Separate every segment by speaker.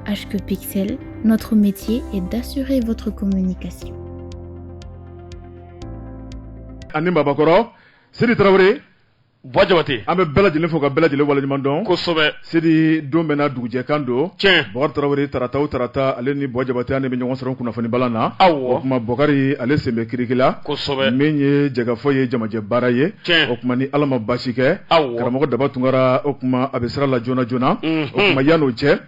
Speaker 1: HQ Pixel, notre métier est d'assurer votre
Speaker 2: communication. Ani Babakɔrɔ, Sidi Tarawele, Bɔ Jabate,
Speaker 3: an bɛ bɛɛ lajɛlen fo ka
Speaker 2: bɛɛ lajɛlen waleɲuman dɔn, kosɛbɛ,
Speaker 3: Sidi don bɛɛ
Speaker 2: n'a dugujɛkan don, tiɲɛ, Bɔkari
Speaker 3: Tarawele tarata
Speaker 2: o tarata ale ni Bɔ Jabate an de bɛ ɲɔgɔn sɔrɔ kunnafonibalan na, awɔ, o tuma Bɔkari
Speaker 3: ale
Speaker 2: sen bɛ kiriki la, kosɛbɛ, min ye
Speaker 3: jɛkafɔ
Speaker 2: ye jamajɛ baara ye. o tuma ni ala
Speaker 3: ma
Speaker 2: basi kɛ karamɔgɔ
Speaker 3: daba tunkara
Speaker 2: o tuma a bɛ sira la joona joona o tuma yan n'o cɛ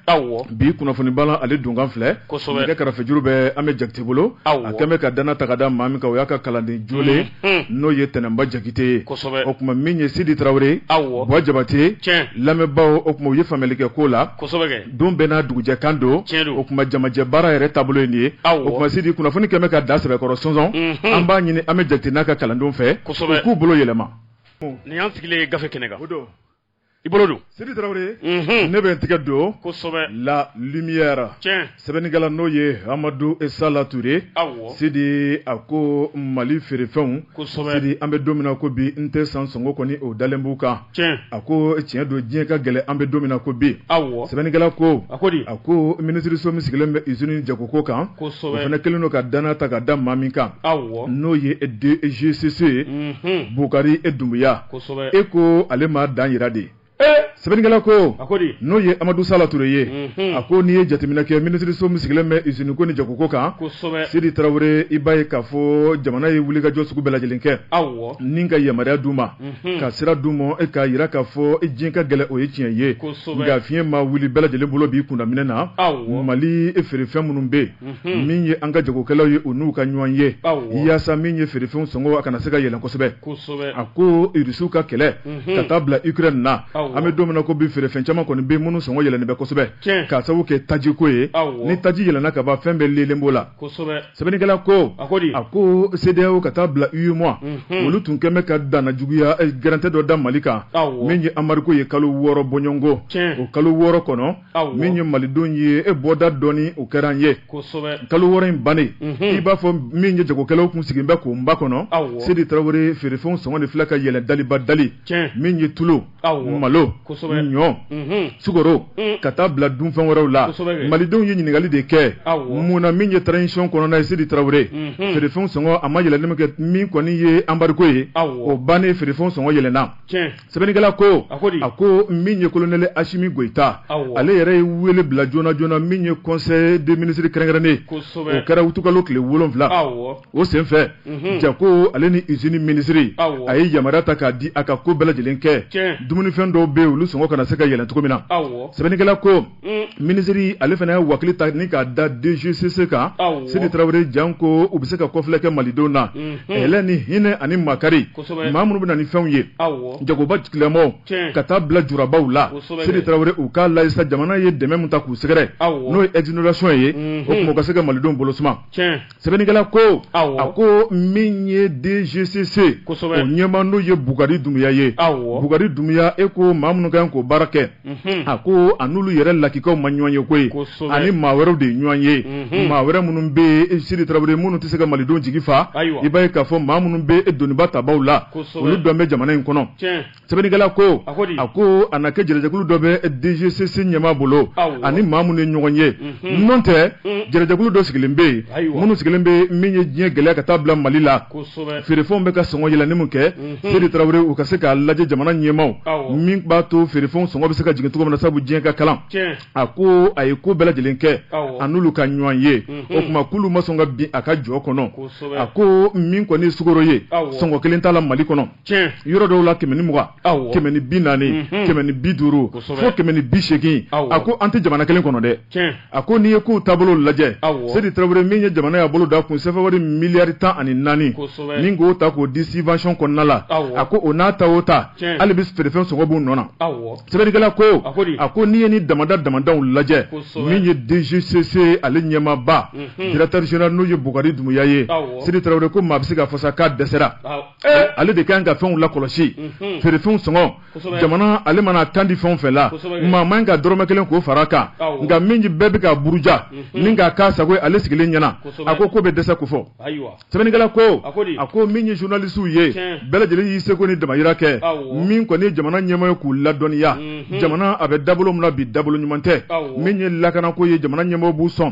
Speaker 2: bi kunnafoni
Speaker 3: bala
Speaker 2: ale donkan filɛ kosɛbɛ karafejuru
Speaker 3: bɛ
Speaker 2: amɛ jakite bolo a kɛlen bɛ ka
Speaker 3: danna ta ka
Speaker 2: da maa min kan o y'a ka kalanden jolen n'o ye tɛnɛnba jakite ye o tuma min ye
Speaker 3: sidi
Speaker 2: tarawele bɔ jabate
Speaker 3: lamɛnbaaw o tuma u ye
Speaker 2: faamuyali kɛ ko la don bɛɛ
Speaker 3: n'a
Speaker 2: dugujɛ kan don o tuma
Speaker 3: jamajɛ
Speaker 2: baara yɛrɛ taabolo ye nin ye o tuma sidi
Speaker 3: kunnafoni kɛlen
Speaker 2: bɛ ka da sɛbɛkɔrɔ sɔnsɔn an b'a ɲini amɛ jakite n'a ka kalandenw fɛ k'u bolo yɛlɛma ni an sigilen
Speaker 3: ye gafe kɛnɛ kan
Speaker 2: i bolo don
Speaker 3: sidi
Speaker 2: tarawele ne bɛ n tigɛ don
Speaker 3: la lumière sɛbɛnnikɛla n'o
Speaker 2: ye amadu sala ture sidi
Speaker 3: a ko
Speaker 2: mali feerefɛnw sidi an bɛ
Speaker 3: don min na ko
Speaker 2: bi n tɛ san sɔngɔ kɔni o dalen b'u kan a
Speaker 3: ko tiɲɛ
Speaker 2: don diɲɛ ka gɛlɛn an bɛ don min na ko bi sɛbɛnnikɛla ko a ko di a
Speaker 3: ko
Speaker 2: minisiririso min sigilen bɛ izini ni jagoko kan fana kɛlen don ka
Speaker 3: danna ta
Speaker 2: ka da maa min kan n'o
Speaker 3: ye
Speaker 2: DGCC bukari e dunbiya e
Speaker 3: ko ale m'a
Speaker 2: dan jira dɛ sɛbɛnnikɛla ko a ko di n'o ye
Speaker 3: amadu sala
Speaker 2: ture ye a ko n'i ye jateminɛ kɛ minisiririso min sigilen bɛ iziniko ni jagoko kan sidi tarawele
Speaker 3: i
Speaker 2: b'a ye k'a fɔ jamana ye wulikajɔ sugu bɛɛ lajɛlen kɛ ni ka
Speaker 3: yamaruya d'u
Speaker 2: ma unhun, ka sira d'u ma e k'a jira k'a fɔ e diɲɛ ka gɛlɛn o ye tiɲɛ ye Kosɛbɛ. nka fiɲɛ
Speaker 3: ma wuli
Speaker 2: bɛɛ lajɛlen bolo b'i kunda minɛn na Awɔ. mali
Speaker 3: feerefɛn
Speaker 2: minnu bɛ yen min ye an ka jagokɛlaw ye u n'u ka ɲɔgɔn ye Awɔ. yaasa min ye
Speaker 3: feerefɛnw
Speaker 2: sɔngɔ a kana se ka yɛlɛn kosɛbɛ kosɛbɛ a
Speaker 3: ko
Speaker 2: irisiw ka kɛlɛ ka taa bila ukraine na Awɔ. an bɛ don min na ko
Speaker 3: bi feerefɛn
Speaker 2: caman kɔni bɛ yen minnu sɔngɔ yɛlɛnnen bɛ kosɛbɛ Tiɲɛ. k'a sababu kɛ
Speaker 3: tajiko
Speaker 2: ye Awɔ. ni taji yɛlɛnna
Speaker 3: ka ban
Speaker 2: fɛn bɛɛ lelen b'o la kosɛbɛ
Speaker 3: sɛbɛnnikɛla ko
Speaker 2: a ko di a
Speaker 3: ko
Speaker 2: CEDEAO ka taa bila UEMOA olu tun kɛlen bɛ ka danna juguya eh, gɛrɛntɛ dɔ da mali kan min ye anbarigo
Speaker 3: ye kalo
Speaker 2: wɔɔrɔ bɔɲɔgɔnko o kalo wɔɔrɔ
Speaker 3: kɔnɔ
Speaker 2: min ye
Speaker 3: malidenw
Speaker 2: ye e bɔda dɔɔni o kɛra an ye kalo wɔɔrɔ
Speaker 3: in
Speaker 2: bannen mhm. i b'a fɔ min ye jagokɛlaw tun sigilen bɛ k'o makɔnɔ sidi tarawele
Speaker 3: feerefɛnw
Speaker 2: sɔngɔ de filɛ ka yɛlɛn daliba dali min ye tulu
Speaker 3: malo
Speaker 2: ɲɔ sukaro ka taa bila dunfɛn wɛrɛw la malidenw ye
Speaker 3: ɲininkali
Speaker 2: de kɛ mun na min ye transition kɔnɔna ye sidi tarawele feerefɛn sɔngɔ a ma yɛlɛnni min kɛ min kɔni ye anbarigo ye o bannen
Speaker 3: feerefɛn
Speaker 2: sɔngɔ yɛlɛnna
Speaker 3: sɛbɛnnikɛla ko
Speaker 2: a ko di a
Speaker 3: ko min
Speaker 2: ye kolonɛli asimi goyita ale yɛrɛ ye
Speaker 3: weele bila
Speaker 2: joona joona min ye conseil des ministres kɛrɛnkɛrɛnnen o kɛra utukalo
Speaker 3: tile
Speaker 2: wolonwula o senfɛ jago ale ni izini minisiri a ye yamaruya
Speaker 3: ta k'a
Speaker 2: di a ka ko bɛɛ lajɛlen kɛ dumunifɛn
Speaker 3: dɔw bɛ
Speaker 2: olu sɔngɔ kana se ka yɛlɛ cogo min na sɛbɛnnikɛla ko minisiri ale fana ye wakili ta ni k'a da DGCC kan sidi tarawele
Speaker 3: janko
Speaker 2: u bɛ se ka kɔfilɛ kɛ malidenw na hɛrɛ ni hinɛ ani makari maa minnu bɛ na
Speaker 3: ni fɛnw
Speaker 2: ye
Speaker 3: jagoba
Speaker 2: tigilamaa ka taa
Speaker 3: bila
Speaker 2: jurabaw la sidi tarawele u
Speaker 3: k'a
Speaker 2: lajɛ sa jamana ye dɛmɛ min ta k'u sɛgɛrɛ n'o ye exonération
Speaker 3: ye
Speaker 2: o tuma u ka se ka malidenw bolo suma
Speaker 3: sɛbɛnnikɛla
Speaker 2: ko a
Speaker 3: ko
Speaker 2: min ye dgcc o
Speaker 3: ɲɛmaa n'o
Speaker 2: ye bukari dumuya ye bukari dumuya
Speaker 3: e
Speaker 2: ko maa minnu kan k'o baara kɛ mhm. a ko a n'olu yɛrɛ lakikaw ma ɲɔgɔn ye koyi ani maa
Speaker 3: wɛrɛw de
Speaker 2: ye ɲɔgɔn ye mhm. maa wɛrɛ minnu bɛ sidi tarawele minnu tɛ se ka malidenw jigi fa i b'a ye k'a fɔ
Speaker 3: maa minnu
Speaker 2: bɛ doniba tabaw la olu dun bɛ jamana
Speaker 3: in kɔnɔ
Speaker 2: sɛbɛnnikɛla
Speaker 3: ko a
Speaker 2: ko di a ko a
Speaker 3: na
Speaker 2: kɛ jɛrɛjɛkulu dɔ bɛ DGCC ɲɛmaa bolo awɔ ani maa minnu
Speaker 3: ye
Speaker 2: ɲɔgɔn ye unhun n'o tɛ jɛrɛjɛkulu dɔ sigilen bɛ yen ayiwa minnu sigilen bɛ
Speaker 3: min ye
Speaker 2: diɲɛ gɛlɛya ka taa bila Mali la kosɛbɛ feerefɛnw bɛ ka
Speaker 3: sɔngɔ
Speaker 2: yɛlɛnni min kɛ unhun Seydi Tarawele u ka se k'a lajɛ jamana ɲɛmaaw awɔ min b'a
Speaker 3: to
Speaker 2: feerefɛnw sɔngɔ bɛ se ka jigin cogo min na sabu diɲɛ ka kalan tiɲɛ a
Speaker 3: ko a
Speaker 2: ye ko bɛɛ lajɛlen kɛ awɔ a n'olu ka ɲɔgɔn
Speaker 3: ye
Speaker 2: o unhun tuma k'olu ma sɔn ka bin a ka jɔ kɔnɔ kosɛbɛ a ko
Speaker 3: min
Speaker 2: kɔni ye sukoro ye awɔ sɔngɔ kelen t'a la
Speaker 3: Mali
Speaker 2: kɔnɔ tiɲɛ, yɔrɔ dɔw
Speaker 3: la kɛmɛ
Speaker 2: ni mugan, awɔ, kɛmɛ ni
Speaker 3: bi naani,
Speaker 2: unhun, kɛmɛ ni bi duuru, kosɛbɛ, fo kɛmɛ ni
Speaker 3: bi
Speaker 2: seegin, awɔ, a ko an tɛ
Speaker 3: jamana kelen
Speaker 2: kɔnɔ dɛ, tiɲɛ, a ko n'i ye kow
Speaker 3: taabolo
Speaker 2: lajɛ, awɔ, Seydi Tarawele min
Speaker 3: ye jamana
Speaker 2: y'a bolo d'a kun sɛfɛwari miliyari tan ani naani, kosɛbɛ, ni k'o ta
Speaker 3: k'o di
Speaker 2: subvention kɔnɔna la, awɔ, a ko o n'a
Speaker 3: ta o
Speaker 2: ta, tiɲɛ, hali bi
Speaker 3: feerefɛn sɔngɔ
Speaker 2: b'u nɔ na, awɔ, sɛbɛnnikɛla
Speaker 3: ko, a
Speaker 2: ko di, a ko n'i ye
Speaker 3: nin
Speaker 2: damada damadaw lajɛ, kosɛbɛ, min ye
Speaker 3: DGCC
Speaker 2: ale ɲɛmaaba, unhun, directeur général n'o ye Bukari Dumuya ye, awɔ, Seydi Tarawele ko maa
Speaker 3: bɛ se
Speaker 2: k'a fɔ sa k'a dɛsɛra, awɔ. Eh!
Speaker 3: ale de kan
Speaker 2: ka fɛnw lakɔlɔsi mhm. feerefɛnw sɔngɔ jamana
Speaker 3: ale mana
Speaker 2: kan di fɛn o fɛn la maa man ka
Speaker 3: dɔrɔmɛ kelen
Speaker 2: k'o fara a kan nka min bɛɛ bɛ
Speaker 3: k'a
Speaker 2: buruja mhm. ni k'a k'a sago ye ale sigilen ɲɛna a ko ko bɛ dɛsɛ ko
Speaker 3: fɔ
Speaker 2: sɛbɛnnikɛla ko a ko min ye journalisiw ye bɛɛ lajɛlen y'i seko ni damayira kɛ min kɔni ye jamana ɲɛmɔgɔ ye k'u ladɔnniya mhm. jamana a bɛ dabolo min na bi dabolo ɲuman tɛ min ye lakanako ye jamana ɲɛmɔgɔ b'u sɔn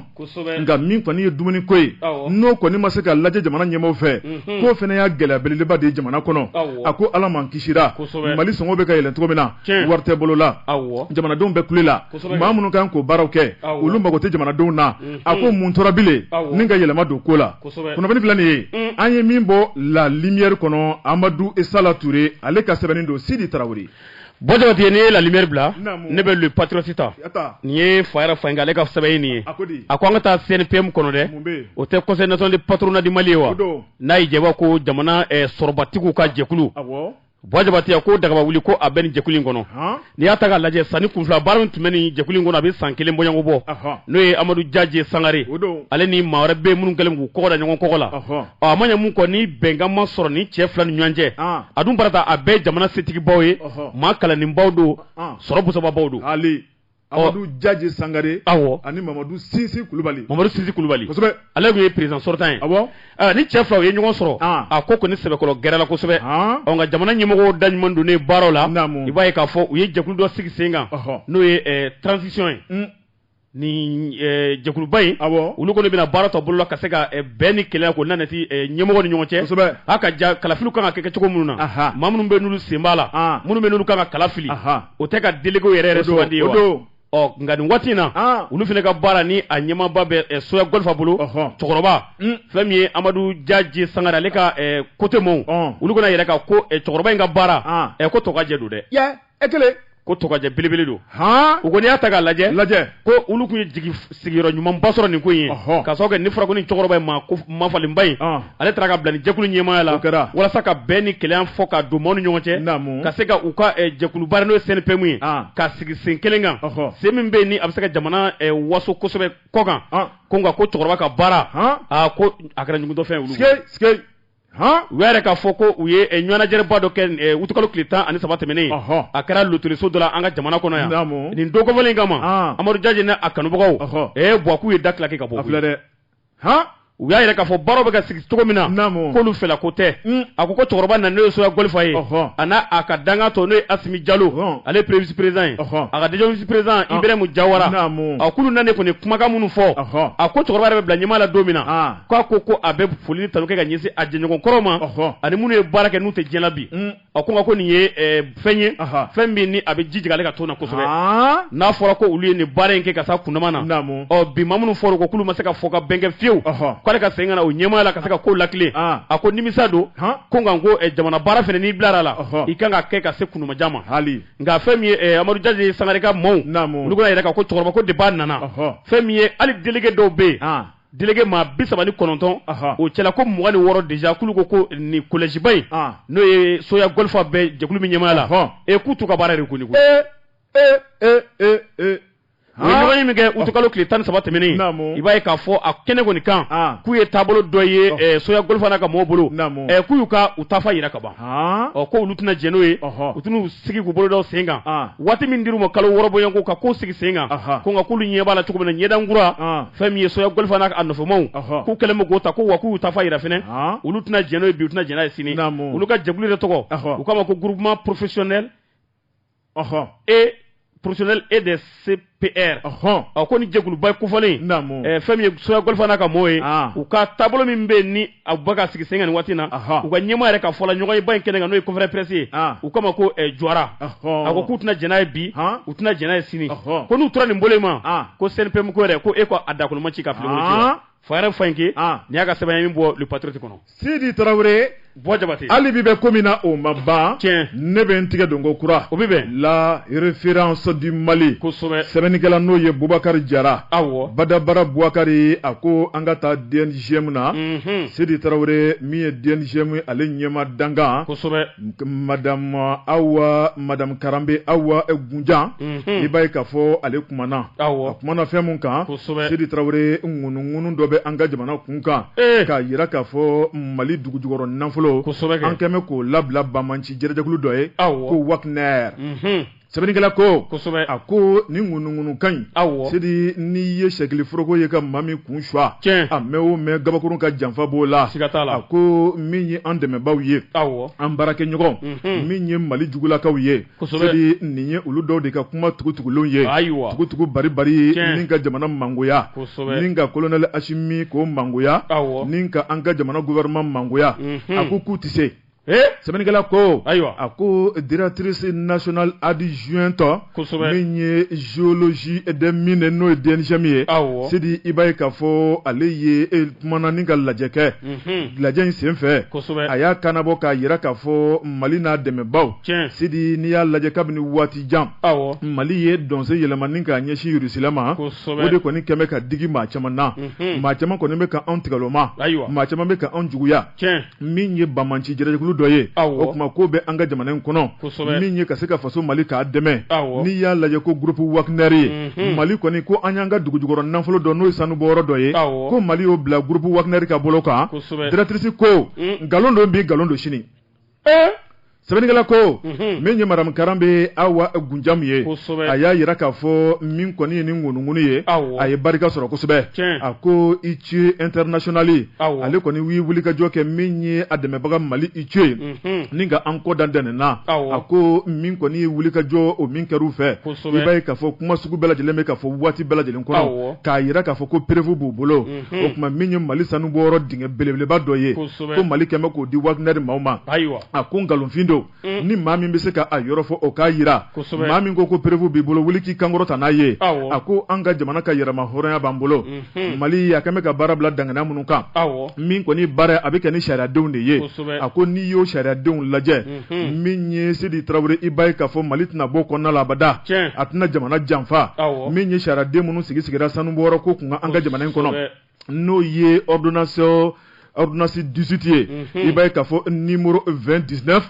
Speaker 2: nka min kɔni ye dumuni ko ye n'o kɔni ma se ka lajɛ jamana ɲɛmɔgɔ fɛ k'o fana y'a gɛlɛya belebeleba de ye jamana kɔnɔ a ko ala m'an kisira mali sɔngɔ bɛ ka yɛlɛ cogo min na wari tɛ bolo la jamanadenw bɛ kule la maa minnu kan k'o baaraw kɛ olu mago tɛ jamanadenw na a ko mun tora bilen ni ka yɛlɛma don ko la kunnafoni filɛ nin ye an ye min bɔ la lumière kɔnɔ amadu sala ture ale ka sɛbɛnni don sidi tarawele Bo jabate ne
Speaker 3: ye la lumière bila ne bɛ le patriote ta nin ye fakara fayinkɛ ale ka sɛbɛnni ye a ko an ka taa CNPM kɔnɔ dɛ o tɛ conseil national de patronat du mali ye wa n'a ye jaba ko jamana sɔrɔbatigiw ka jɛkulu bo jabate a ko dagaba wuli ko a bɛ nin jɛkulu in kɔnɔ n'i y'a ta k'a lajɛ sa nin kun fila baara min tun bɛ nin jɛkulu in kɔnɔ a bɛ san kelen bɔɲɔgɔnko bɔ n'o ye amadu jajɛ sangare ale ni maa wɛrɛ bɛ minnu kɛlen k'u kɔgɔ da ɲɔgɔn kɔgɔ la ɔ a ma ɲɛ mun kɔ ni bɛnkan ma sɔrɔ nin cɛ fila ni ɲɔgɔn cɛ ah. a dun barata a bɛɛ jamana setigibaw ye maa kalannenbaw don ah. sɔrɔ busababaw don Amadu
Speaker 2: Jaje Sangare awɔ ani Mamadu Sinsi Kulubali Mamadu Sinsi Kulubali kosɛbɛ ale tun ye
Speaker 3: président sortant ye awɔ aa nin cɛ fila u ye ɲɔgɔn sɔrɔ ah. a ko kɔni sɛbɛkɔrɔ gɛrɛ la kosɛbɛ ah. ɔ nka jamana ɲɛmɔgɔw da ɲuman donnen baaraw la i b'a ye k'a fɔ u ye jɛkulu dɔ sigi sen kan n'o ye eh, transition ye mm. nin jɛkuluba in olu kɔni bɛna baara tɔ boloda ka se ka bɛn ni kelenya k'o nanati ɲɛmɔgɔw ni ɲɔgɔn cɛ a ka ja kalafiliw kan ka kɛ kɛ cogo minnu na maa minnu bɛ n'olu sen b'a la minnu bɛ n'olu kan ka kala fili o tɛ ka délégué yɛrɛ sugandi o ɔ nka nin waati in na olu fana ka baara nin a ɲɛmaaba bɛ soya gɔlifa bolo cɛkɔrɔba fɛn min ye amadu jaje sangare ale ka côté maaw olu kɔni yɛrɛ ka ko cɛkɔrɔba in ka baara ko tokajɛ don dɛ e kelen ko tokajɛ belebele don u ko n'i y'a ta k'a lajɛ lajɛ ko olu tun ye jigi sigiyɔrɔ ɲumanba sɔrɔ nin ko ye k'a sababu kɛ n'a fɔra ko nin cɛkɔrɔba in maa falenba in ale taara ka bila nin jɛkulu ɲɛmaaya la walasa ka bɛn ni kelenya fɔ ka don maaw ni ɲɔgɔn cɛ ka se ka u ka jɛkuluba n'o ye CNPM ye ka sigi sen kelen kan sen min bɛ ni a bɛ se ka jamana waso kosɛbɛ kɔkan ko nka ko cɛkɔrɔba ka baara ko a kɛra ɲugutɔfɛn u y'a yira k'a fɔ ko u ye ɲɔgɔnnajɛba dɔ kɛ utukalo tile tan ani saba tɛmɛnen a kɛra lotɛliso dɔ la an ka jamana kɔnɔ yan nin don kofɔlen kama amadu jaje n'a kanubagaw e buwa'u ye da tilaki ka bɔ filɛ dɛ hɔn u y'a yira k'a fɔ baara bɛ ka sigi cogo min na k'olu fɛ ko tɛ a ko ko cɛkɔrɔba na n'o ye soya gɔlifa ye a n'a a ka dankan tɔw n'o ye asimi jalo ale ye premier vice-président ye a ka deuxième vice-président ibrahima jawara a k'olu nalen kɔni kumakan minnu fɔ a ko cɛkɔrɔba yɛrɛ bɛ bila ɲɛmaaya la don min na k'a ko ko a bɛ foli ni tanu kɛ ka ɲɛsin a jɛɲɔgɔn kɔrɔw ma ani minnu ye baara kɛ n'u tɛ diɲɛ na bi a ko ko nin ye fɛn ye fɛn min ni a bɛ digi ale ka to na kosɛbɛ n'a fɔra ko olu ye nin baara in kɛ ka se kundama na bi maa minnu fɔra ko k'olu ma se ka fɔ ka bɛn kɛ fiyewu k'ale ka segin ka na o ɲɛmaaya la ka se ka ko latilen a ko nimisa don ko nka ko jamana baara fana n'i bilara la i kan k'a kɛ ka se kundama jan ma nka fɛn min ye amadu jaje sangare ka maaw olu kɔni yɛrɛ ka ko cɛkɔrɔba depuis a nana fɛn min ye hali délégué dɔw bɛ yen Délégué maa 39, anhan, o cɛla ko 26 déjà k'olu ko ko nin collège ba in, an, n'o ye soya golfa bɛ jɛkulu min ɲɛmaaya la, ɔnhɔn, ee k'u t'u ka baara reconnu koyi, ee, ee, ee, ee, ee, han, u ye ɲɔgɔnye min kɛ utukalo tile 13 tɛmɛnen, naamu, i b'a ye k'a fɔ a kɛnɛ kɔni kan, an, k'u ye taabolo dɔ ye soya golfa n'a ka mɔgɔw bolo, naamu, ɛ k'u y'u ka u taafa jira ka ban. ɔ ko olu tɛna jɛn n'o ye u tɛn'u sigi k'u bolo da sen kan waati min dir'u ma kalo wɔɔrɔ bɔɲɔgɔnko ka ko sigi sen kan ko nka k'olu ɲɛ b'a la cogo min na ɲɛdankura fɛn min ye soya gɔlifa n'a a nɔfɛmaw k'u kɛlen bɛ k'o ta ko wa k'u y'u taafa jira fana olu tɛna jɛn n'o ye bi u tɛna jɛn n'a ye sini olu ka jɛkulu yɛrɛ tɔgɔ u k'a ma ko groupement professionnel ɔhɔn e professionnel et des CPR ɔhɔn ɔ ko ni jɛkuluba kofɔlen naamu ɛɛ fɛn min ye Soya Golfa n'a ka mɔɔw ye ah. u ka taabolo min bɛ ni a bɛ ka sigi sen kan nin waati na u ka ɲɛmaa yɛrɛ ka fɔla ɲɔgɔn ye ba in kɛnɛ kan n'o ye conférence presse ye ah. u k'a ma ko eh, Juwara a ko k'u tɛna jɛn n'a ye bi ah. u tɛna jɛn n'a ye sini ko n'u tora nin bolo in ma ko CNPM ko yɛrɛ ko e ko a dakolo ma ci ka fili Fayɛrɛ Fayinke an nin y'a ka sɛbɛn ye min bɔ Le Patriote kɔnɔ Sidi
Speaker 2: Tarawele Buwa Jabate hali
Speaker 3: bi bɛ ko min na
Speaker 2: o ma ban tiɲɛ ne bɛ n tigɛ don ko kura o bɛ bɛn La
Speaker 3: Référence
Speaker 2: du Mali kosɛbɛ
Speaker 3: sɛbɛnnikɛla n'o
Speaker 2: ye Bubakari Jara awɔ Badabara Bubakari a ko an ka taa DNGM na unhun Sidi Tarawele min ye DNGM ale ɲɛmaa dankan kosɛbɛ
Speaker 3: madamu
Speaker 2: Awa madamu Karanbe Awa Gunjan i b'a ye k'a fɔ ale kumana a kumana fɛn mun kan sidi tarawele ŋunuŋunu dɔ bɛ an ka jamana kun kan k'a yira k'a fɔ mali dugu jukɔrɔ nafolo kosɛbɛ an kɛmɛ k'o labila banbaanci jɛrɛjɛkulu dɔ ye awɔ ko Wagner sɛbɛnnikɛla ko kosɛbɛ a ko ni ŋunuŋunukan in awɔ sidi nin ye sɛkili foroko ye ka maa min kun suwa tiɲɛ a mɛɛn o mɛɛn gabakurun ka janfa b'o la siga t'a la a ko min ye an dɛmɛbaaw ye awɔ an baarakɛɲɔgɔn mhm. min ye mali jugulakaw ye kosɛbɛ sidi nin ye olu dɔw de ka kuma tugutugulenw ye ayiwa tugutugu baribari ni ka jamana mangoya kosɛbɛ ni ka kolonɛli asimi k'o mangoya awɔ ni ka an ka jamana gouvernement mangoya mhm. a ko k'u tɛ se ee sɛbɛnnikɛla ko ayiwa a ko directrice nationale adjointe kosɛbɛ min ye géologie des mines n'o ye DNGM ye awɔ Sidi i b'a ye k'a fɔ ale ye e kumana ni ka lajɛ kɛ mhm. lajɛ in senfɛ kosɛbɛ a y'a kannabɔ k'a yira k'a fɔ Mali n'a dɛmɛbaaw tiɲɛ Sidi n'i y'a lajɛ kabini waati jan awɔ Mali ye dɔnsen yɛlɛma ni k'a ɲɛsin Rusila ma kosɛbɛ o de kɔni kɛmɛ ka digi maa caman na mhm. maa caman kɔni bɛ ka anw tigɛloma ayiwa maa caman bɛ ka anw juguya min ye banbaanci jɛrɛjɛkulu dɔ ye o kuma ko bɛ an ka jamana in kɔnɔ min ye ka se ka faso mali k'a dɛmɛ n'i y'a lajɛ ko groupe Wagner ye mali kɔni ko an y'an ka dugu jukɔrɔ nafolo dɔ n'o ye sanubɔyɔrɔ dɔ ye ko mali y'o bila groupe Wagner ka bolo kan directrice ko nkalon don bi nkalon don sini ee sɛbɛnnikɛla ko mhm. min ye madamu Karanbe Awa Gunjamu ye a y'a yira k'a fɔ min kɔni ye ni ŋunuŋunu ye a ye barika sɔrɔ kosɛbɛ a ko ITIE international ale kɔni ye wulikajɔ kɛ min ye a dɛmɛbaga mali ITIE ye mhm. ni ka an kɔ da dɛnɛn na a ko min kɔni ye wulikajɔ o min kɛr'u fɛ i b'a ye k'a fɔ kuma sugu bɛɛ lajɛlen bɛ ka fɔ waati bɛɛ lajɛlen kɔnɔ k'a yira k'a fɔ ko preuve b'u bolo mhm. o kuma min ye mali sanubɔyɔrɔ dingɛ belebeleba dɔ ye ko mali kɛmɛ k'o di Wagner maaw ma ayiwa a ko nkalonfin don ni maa min bɛ se k'a yɔrɔ fɔ o k'a yira maa min ko ko preuve b'i bolo wuli k'i kan kɔrɔta n'a ye a ko an ka jamana ka yɛrɛmahɔrɔnya b'an bolo mali a kɛmɛ ka baara bila daŋaniya minnu kan min kɔni baara a bɛ kɛ ni sariyadenw de ye a ko n'i y'o sariyadenw lajɛ min ye sedi tarawele i ba ye k'a fɔ mali tɛna bɔ kɔnɔna labada a tɛna jamana janfa min ye sariya den minnu sigi sigira sanu bɔ ko tun an ka jamana in kɔnɔ n'o ye awdnaso awdsi dusuti ye i ba ka fɔ ni muru v2 diina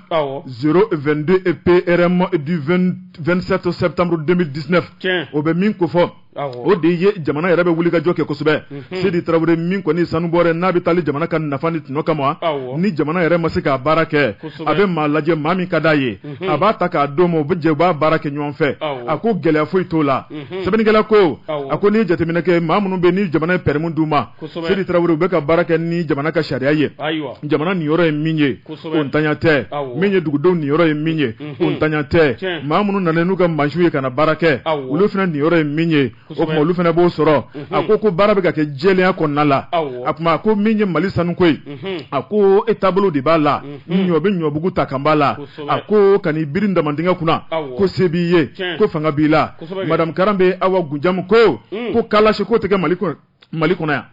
Speaker 2: z2 don e pprɛnma du2sɛtɔ sɛ tanmuru denmisɛnnin diina o bɛ min ko fɔ O de ye jamana yɛrɛ bɛ wulikajɔ kɛ kosɛbɛ sidi tarawele min kɔni sanubɔyɔrɔ n'a bɛ taa jamana ka nafa ni tɔnɔ kama ni jamana yɛrɛ ma se k'a baara kɛ a bɛ maa lajɛ maa min ka d'a ye a b'a ta k'a d'o ma u bɛ jɛ u b'a baara kɛ ɲɔgɔn fɛ a ko gɛlɛya foyi t'o la sɛbɛnnikɛla ko a ko n'i ye jateminɛ kɛ maa minnu bɛ ni jamana ye permis d'u ma sidi tarawele u bɛ ka baara kɛ ni jamana ka sariya ye jamana niyɔrɔ ye min ye o ntanya tɛ min ye dugudenw niyɔrɔ ye min ye o ntanya tɛ maa minnu nana n'u ka mansinw ye ka na baara kɛ olu fana niyɔrɔ ye min ye o tuma olu fana b'o sɔrɔ a ko ko baara bɛ ka kɛ jɛlenya kɔnɔna la a tuma a ko min ye mali sanu ko ye a ko e taabolo de b'a la ɲɔ bɛ ɲɔbugu ta kan b'a la a ko ka n'i biri damandingɛ kunna ko se b'i ye ko fanga b'i la madamu Karambé Awa Goundiam ko ko kalasi ko tɛ kɛ mali kɔnɔ mali kɔnɔ yan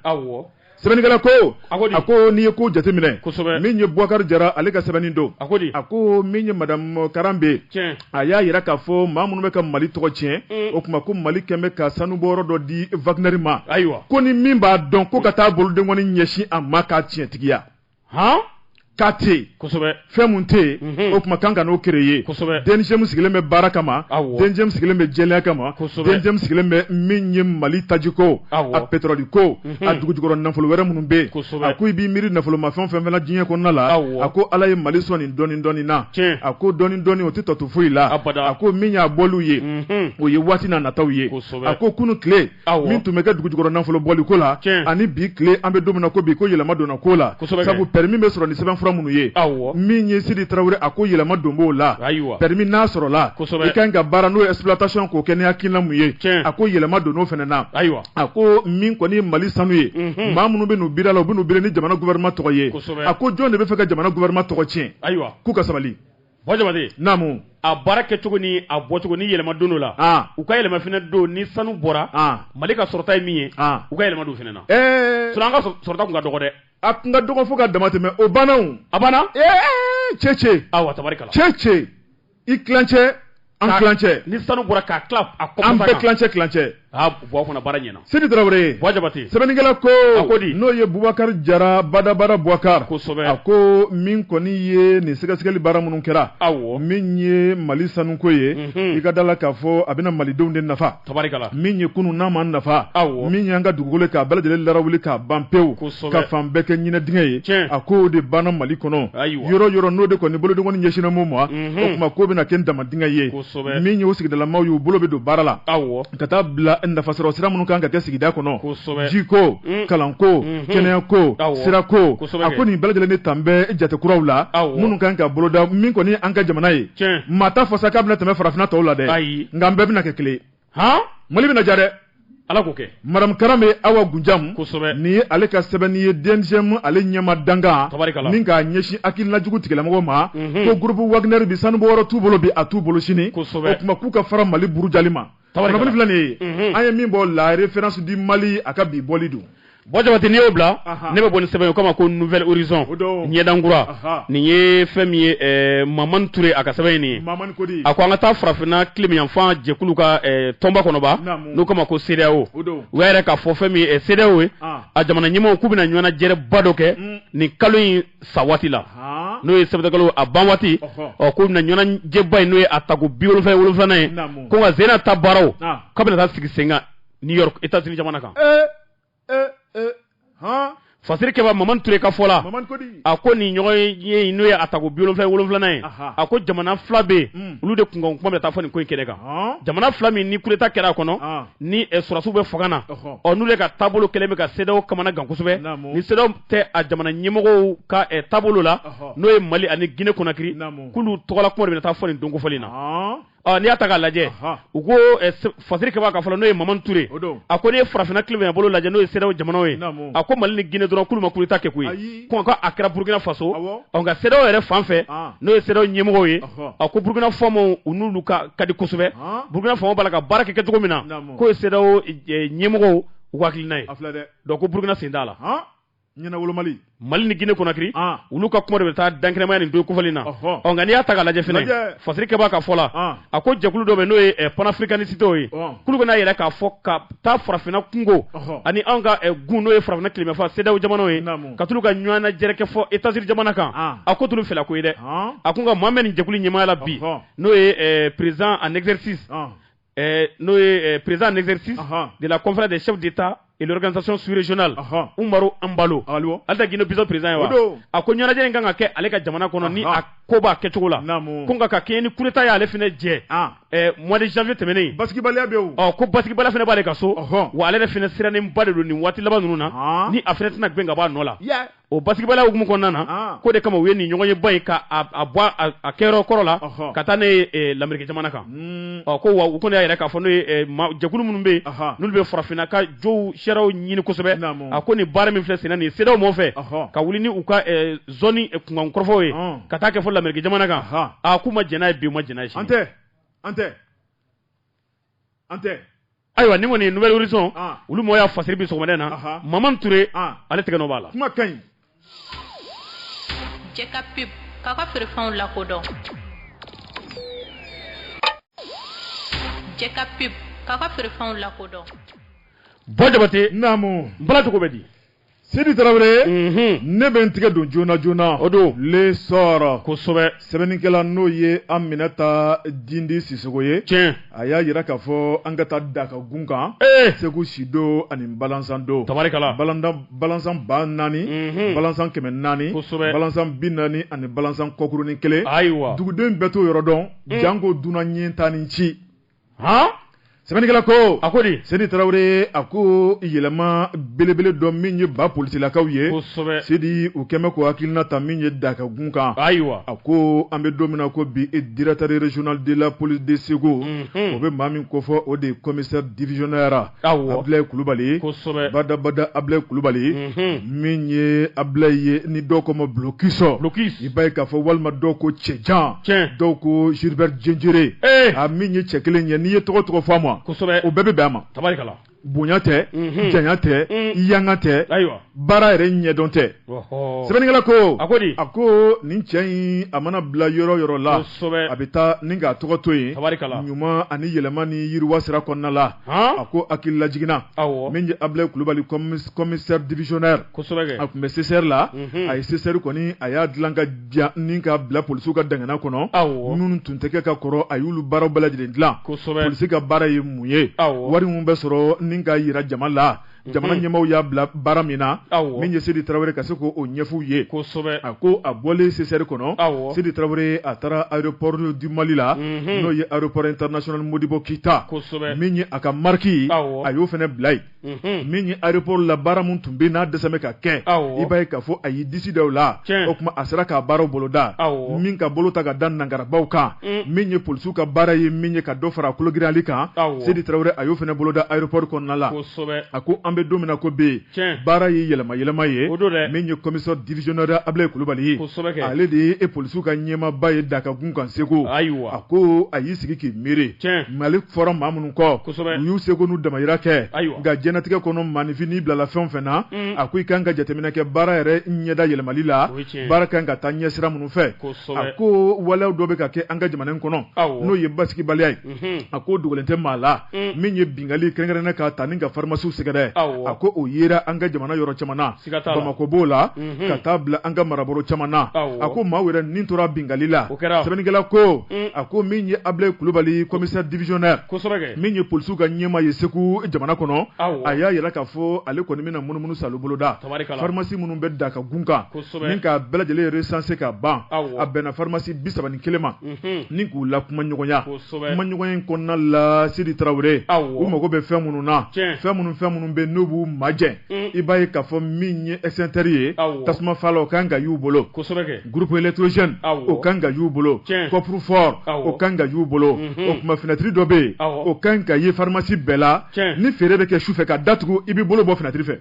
Speaker 2: sɛbɛnnikɛla ko a ko n'i ye ko jateminɛ min ye bubakari jara ale ka sɛbɛnni don a ko min ye madamu Karambé a y'a jira k'a fɔ maa minnu bɛ ka mali tɔgɔ tiɲɛ mm. o tuma ko mali kɛlen bɛ ka sanubɔyɔrɔ dɔ di Wagner ma ayiwa ko ni min b'a dɔn ko ka taa bolodenkɔni ɲɛsin a ma k'a tiɲɛtigiya hɔn k'a tɛ yen kosɛbɛ fɛn min tɛ yen o tuma k'an kan'o créer kosɛbɛ DNGM sigilen bɛ baara kama DNGM sigilen bɛ jɛlenya kama DNGM sigilen bɛ min ye mali tajiko a petoroli ko a dugujukɔrɔ nafolo wɛrɛ minnu bɛ yen kosɛbɛ a ko i b'i miiri nafolomafɛn fɛn fɛn na diɲɛ kɔnɔna la a ko ala ye mali sɔn nin dɔɔni dɔɔni na a ko dɔɔni dɔɔni o tɛ tɔ to foyi la a ko min y'a bɔli ye o ye waati na nataw ye a ko kunun tile min tun bɛ kɛ dugujukɔrɔ nafolo bɔli ko la ani bi tile an bɛ don min na ko bi ko yɛlɛma donna ko la sabu permis bɛ sɔrɔ ni sɛbɛnfura minnu ye min ye sidi tarawele a ko yɛlɛma don b'o la permis n'a sɔrɔla i ka kan ka baara n'o ye exploitation k'o kɛ ni hakilina min ye a ko yɛlɛma donn'o fana na ayiwa a ko min kɔni ye mali sanu ye maa minnu bɛ n'u biri a la u bɛ n'u biri ni jamana gouvernement tɔgɔ ye a ko jɔn de bɛ fɛ ka jamana gouvernement tɔgɔ tiɲɛ ayiwa k'u ka sabali Buwa jabate naamu a baara kɛ cogo ni a bɔ cogo ni yɛlɛma donn'o la u ka yɛlɛma fana don ni sanu bɔra mali ka sɔrɔta ye min ye u ka yɛlɛma don fana na sinon an ka sɔrɔta tun ka dɔgɔ dɛ a tun ka dɔgɔ fo ka dama tɛmɛ o banna a banna cɛ cɛ tabarikala cɛ cɛ i tilancɛ An Ka- tilancɛ. ni sanu bɔra k'a tila a kɔfɛ an bɛɛ tilancɛ tilancɛ aa
Speaker 3: buwa fana baara ɲɛna sidi tarawele buwa jabate
Speaker 2: sɛbɛnnikɛla ko
Speaker 3: A ko
Speaker 2: di? n'o ye bubakari jara badabada bubakar Kosɛbɛ. a ko min kɔni ye nin sɛgɛsɛgɛli baara minnu kɛra awɔ min ye mali sanuko ye Mhm. i ka da la k'a fɔ a bɛna malidenw de nafa min ye kunun n'a ma nafa min y'an ka dugukolo k'a bɛɛ lajɛlen laara wuli k'a ban pewu ka fan bɛɛ kɛ ɲinɛdingɛ ye a ko o de banna mali kɔnɔ yɔrɔ yɔrɔ n'o de kɔni bolodenkɔni ɲɛsinnen mun ma o tuma k'o bɛna kɛ damandingɛ ye min y'o sigidalamaw y'u bolo bɛ don baara la ka taa bila nafa sɔrɔ sira minnu kan ka kɛ sigida kɔnɔ jiko kalanko kɛnɛya ko sira ko a ko nin bɛɛ lajɛlen tan bɛ jatekuraw la minnu kan ka boloda min kɔni an ka jamana ye maa t'a fɔ sa k'a bɛna tɛmɛ farafinna tɔw la dɛ nka an bɛɛ bɛna kɛ kelen mali bɛna diya dɛ ala k'o kɛ madame karanbe awa gunjamu nin ye ale ka sɛbɛnni ye DNGM ale ɲɛmaa dankan min k'a ɲɛsin hakilinajugu tigilamɔgɔw ma mhm. ko gurupu wagner bi sanubɔyɔrɔ t'u bolo bi a t'u bolo sini o tuma k'u ka fara mali burujali ma Tabarikala. Kunnafoni filɛ nin ye. Unhun. An ye min bɔ la référence du Mali a ka bi bɔli don. Bon Jabate n'i y'o bila,
Speaker 3: Ahan. ne bɛ bɔ ni sɛbɛn ye u k'a ma ko nouvel horizon O don. ɲɛdan kura. Ahan. Nin ye fɛn min ye ɛɛ Mamani Ture a ka sɛbɛn ye nin ye. Mamani Kodi. A ko an ka taa farafinna tilebinyanfan jɛkulu ka ɛɛ tɔnba kɔnɔba, Naamu. n'u k'a ma ko CEDEAO. O don. U y'a jira k'a fɔ fɛn min ye ɛ CEDEAO ye, An. a jamana ɲɛmaaw k'u bɛna ɲɔgɔnnajɛrɛba dɔ kɛ Un. nin kalo in sa waati la n'o ye septembre kalo a ban waati ɔ k'u bɛna ɲɔgɔnnajɛba in n'o ye a tako bi wolonfila ni wolonfilanan ye ko ka zena ta baaraw k'a bɛna taa sigi sen kan New York États-Unis jamana kan fasiri kɛba mamani ture ka fɔ la a ko nin ɲɔgɔnye n'o ye a tako bi wolonfila ni wolonfilanan ye a ko jamana fila bɛ olu de kunkan kuma bɛ taa fɔ nin ko in kɛnɛ kan jamana fila min ni coup d'état kɛra a kɔnɔ ni sɔrɔdasiw bɛ fanga na ɔ n'u de ka taabolo kɛlen bɛ ka CEDEAO kamanagan kosɛbɛ ni CEDEAO tɛ a jamana ɲɛmɔgɔw ka taabolo la n'o ye Mali ani Guinée Conakry k'olu tɔgɔla kuma de bɛ taa fɔ nin don kofɔlen in na ɔ n'i y'a ta k'a lajɛ u ko fasiri kɛbaa ka fɔ la n'o ye Mamani Ture a ko n'i ye farafinna tilebinyanbolo lajɛ n'o ye CEDEAO jamanaw ye a ko Mali ni Guinée dɔrɔn k'olu ma coup d'Etat kɛ koyi. a kɛra burukina faso nka CEDEAO yɛrɛ fan fɛ n'o ye CEDEAO ɲɛmɔgɔw ye a ko burukina faamaw u n'olu ka di kosɛbɛ burukina faamaw b'a la ka baara kɛ cogo min na k'o ye CEDEAO ɲɛmɔgɔw u ka hakilina ye donc ko burukina sen t'a
Speaker 2: la mali
Speaker 3: ni Guinée Conakry olu ka kuma de bɛ taa dankɛnɛmaya nin don kofɔlen na nka n'i y'a ta k'a lajɛ fana fasiri kɛba ka fɔ la a ko jɛkulu dɔ bɛ n'o ye eh, panafricanisitew ye Ɔn. k'olu bɛn'a jira k'a fɔ ka taa farafinna kunko Ɔhɔ. ani anw ka eh, gun n'o ye farafinna tilebinyanfan CEDEAO jamanaw ye Naamu. ka t'olu ka ɲɔgɔnnajɛrɛ kɛ fɔ États-Unis jamana kan An. a k'o t'olu fɛla ko ye dɛ Ɔn. a ko nka maa min bɛ nin jɛkulu ɲɛmaaya la bi Ɔhɔ. n'o ye eh, président en exercice Ɔn. eh, n'o ye eh, président en exercice Ɔhɔ. de la conférence des chefs d'état l'organisation sous-régionale Umaru Embalo ale tɛ Guinée-Bissau président ye a ko ɲɛnajɛ in kan ka kɛ ale ka jamana kɔnɔ ni a ko b'a kɛcogo la ko nka ka kɛɲɛ ni coup d'état y'ale fana jɛ mois de janvier tɛmɛnen basigibaliya
Speaker 2: bɛ ko basigibaliya fana
Speaker 3: b'aale ka so wa ale yɛrɛ fana sirannenba de don nin waati laban ninnu na ni a fana tɛna gɛn ka bɔ a nɔ la o basigibaliya hukumu kɔnɔna na, an, k'o de kama u ye nin ɲɔgɔnye ba in ka a bɔ a kɛyɔrɔ kɔrɔ la, ɔhɔ, ka taa n'a ye ɛ lameriki jamana kan, un, ɔ ko wa u kɔni y'a jira k'a fɔ n'o ye ɛ ma jɛkulu minnu bɛ yen, ɔhɔ, n'olu bɛ farafinna ka josariyaw ɲini kosɛbɛ, naamu, a ko nin baara min filɛ senna nin ye CEDEAO mɔɔw fɛ, ɔhɔ, ka wuli ni u ka ɛ zɔni kunkan kɔrɔfɔw ye, ɔn, ka taa kɛ fɔ lameriki jamana kan, ɔnhɔn, aa k'u ma jɛn n'a ye bi u ma jɛn n'a ye sini, an tɛ, an tɛ.
Speaker 2: an tɛ ayiwa nin
Speaker 3: kɔni Nouvel Horizon ah. olu mɔgɔ y'a fasiri bi sɔgɔmada in na maman ture ah. ale tɛgɛ nɔ b'a la kuma ka ɲi
Speaker 4: jɛ ka pub k'a ka feerefɛnw lakodɔn jɛ ka pub k'a ka feerefɛnw lakodɔn bɔ
Speaker 3: jabate naamu
Speaker 2: bala cogo bɛ di
Speaker 3: Sidi
Speaker 2: tarawele ne bɛ n tigɛ don joona joona o don L'Essor kosɛbɛ
Speaker 3: sɛbɛnnikɛla n'o ye
Speaker 2: Aminata Dindi Sisoko ye tiɲɛ a y'a jira
Speaker 3: k'a fɔ
Speaker 2: an ka taa Da ka gun kan segu sido ani balansando
Speaker 3: tabarikala balansan
Speaker 2: ba naani balansan kɛmɛ naani kosɛbɛ balansan bi
Speaker 3: naani
Speaker 2: ani balansan kɔkurunin kelen ayiwa dugudenw
Speaker 3: bɛɛ t'o yɔrɔ
Speaker 2: dɔn janko dunan ɲɛ tan ni ci hɔn sɛbɛnnikɛla ko a ko di Sidi
Speaker 3: tarawele
Speaker 2: a ko yɛlɛma belebele dɔ min ye ba polisilakaw ye kosɛbɛ Sidi u
Speaker 3: kɛmɛ ko
Speaker 2: hakilina ta min ye Da ka gun kan ayiwa a
Speaker 3: ko an
Speaker 2: bɛ don min na ko bi e directeur régional de la police de segu o bɛ maa min kofɔ o de ye commissaire divisionnaire Abdulayi kulubali
Speaker 3: badabada
Speaker 2: Abdulayi kulubali min ye Abdulayi ye ni dɔw ko ma blocus i b'a ye k'a fɔ walima dɔw ko cɛjan dɔw ko Gilbert Diendéré a min ye cɛ kelen ye n'i ye tɔgɔ
Speaker 3: tɔgɔ fɔ
Speaker 2: a ma o bɛɛ bɛ bɛn a ma bonya tɛ janya tɛ yanga tɛ baara yɛrɛ ɲɛdɔn tɛ sɛbɛnnikɛla ko a ko a ko nin cɛ in a mana bila yɔrɔ yɔrɔ la a bɛ taa ni k'a tɔgɔ to yen ɲuman ani yɛlɛma ni yiriwa sira kɔnɔna la a ko hakililajigin na min ye Abdulayi kulubali commissaire divisionnaire a tun bɛ CCR la a ye CCR kɔni a y'a dila ka ɲa ni ka bila polisiw ka dangana kɔnɔ minnu tun tɛ kɛ ka kɔrɔ a y'olu baaraw bɛɛ lajɛlen dila kosɛbɛ polisi ka baara ye mun ye wari minnu bɛ sɔrɔ ni ka jira jama la jamana ɲɛmaw y'a bila baara min na min ye Sidi tarawele ka se k' o ɲɛf'u ye a ko a bɔlen CCR kɔnɔ Sidi tarawele a taara aéroport du Mali la n'o ye aéroport international Modibo keyita min ye a ka marque a y'o fana bila yen min ye aéroport la baara min tun bɛ n'a dɛsɛ ka kɛ i b'a ye k'a fɔ a y'i disi da o la o tuma a sera k'a baaraw boloda min ka bolo ta ka da nangarabaw kan min ye polisiw ka baara ye min ye ka dɔ fara kologirali kan sidi tarawele a y'o fana boloda rapport kɔnɔna la a ko an bɛ don min na ko bɛ yen baara ye yɛlɛma yɛlɛma ye min ye commissaire divisionnaire abilaye kulubali ale de ye e polisiw ka ɲɛmaaba ye da ka gun kan segu ayiwa a ko a y'i sigi k'i miiri ale fɔra maa minnu kɔ u y'u seko n'u damayira kɛ nka diɲɛlatigɛ kɔnɔ maaninfin n'i bilala fɛn fɛn na a ko i kan ka jateminɛ kɛ baara yɛrɛ ɲɛda yɛlɛmali la baara kan ka taa ɲɛsira minnu fɛ a ko waleya dɔ bɛ ka kɛ an ka jamana kɔnɔ n'o ye basigibaliya ye a ko dogolen tɛ maa la min ye bingali kɛrɛnkɛrɛnnen ka ta ni ka farimasiw sɛgɛrɛ a ko o yera an ka jamana yɔrɔ caman na bamakɔ b'o la ka taa bila an ka marabolo caman na a ko maaw yɛrɛ nin tora bingali la o kɛra sɛbɛnnikɛla ko a ko min ye abilaye kulubali commissaire divisionnaire min ye polisiw ka ɲɛmaa ye segu jamana kɔnɔ a y'a yira k'a fɔ ale kɔni bɛna munumunusaalo boloda farimasi minnu bɛ da ka gun kan ni k'a bɛɛ lajɛlen recensé ka ban a bɛnna farimasi bi saba ni kelen ma ni k'u lakumaɲɔgɔnya kumaɲɔgɔnya in kɔnɔna la sidi tarawele u mago bɛ fɛn minnu na fɛn minnu fɛn minnu bɛ n'u b'u majɛn i b'a ye k'a fɔ min ye extincteur ye tasuma fala o kan ka y'u bolo groupe électrogène o kan ka y'u bolo coffre fort o kan ka y'u bolo o kuma finɛtiri dɔ bɛ yen o kan ka ye farimasi bɛɛ la ni feere bɛ kɛ su fɛ k'a datugu i bɛ bolo bɔ finɛtiri fɛ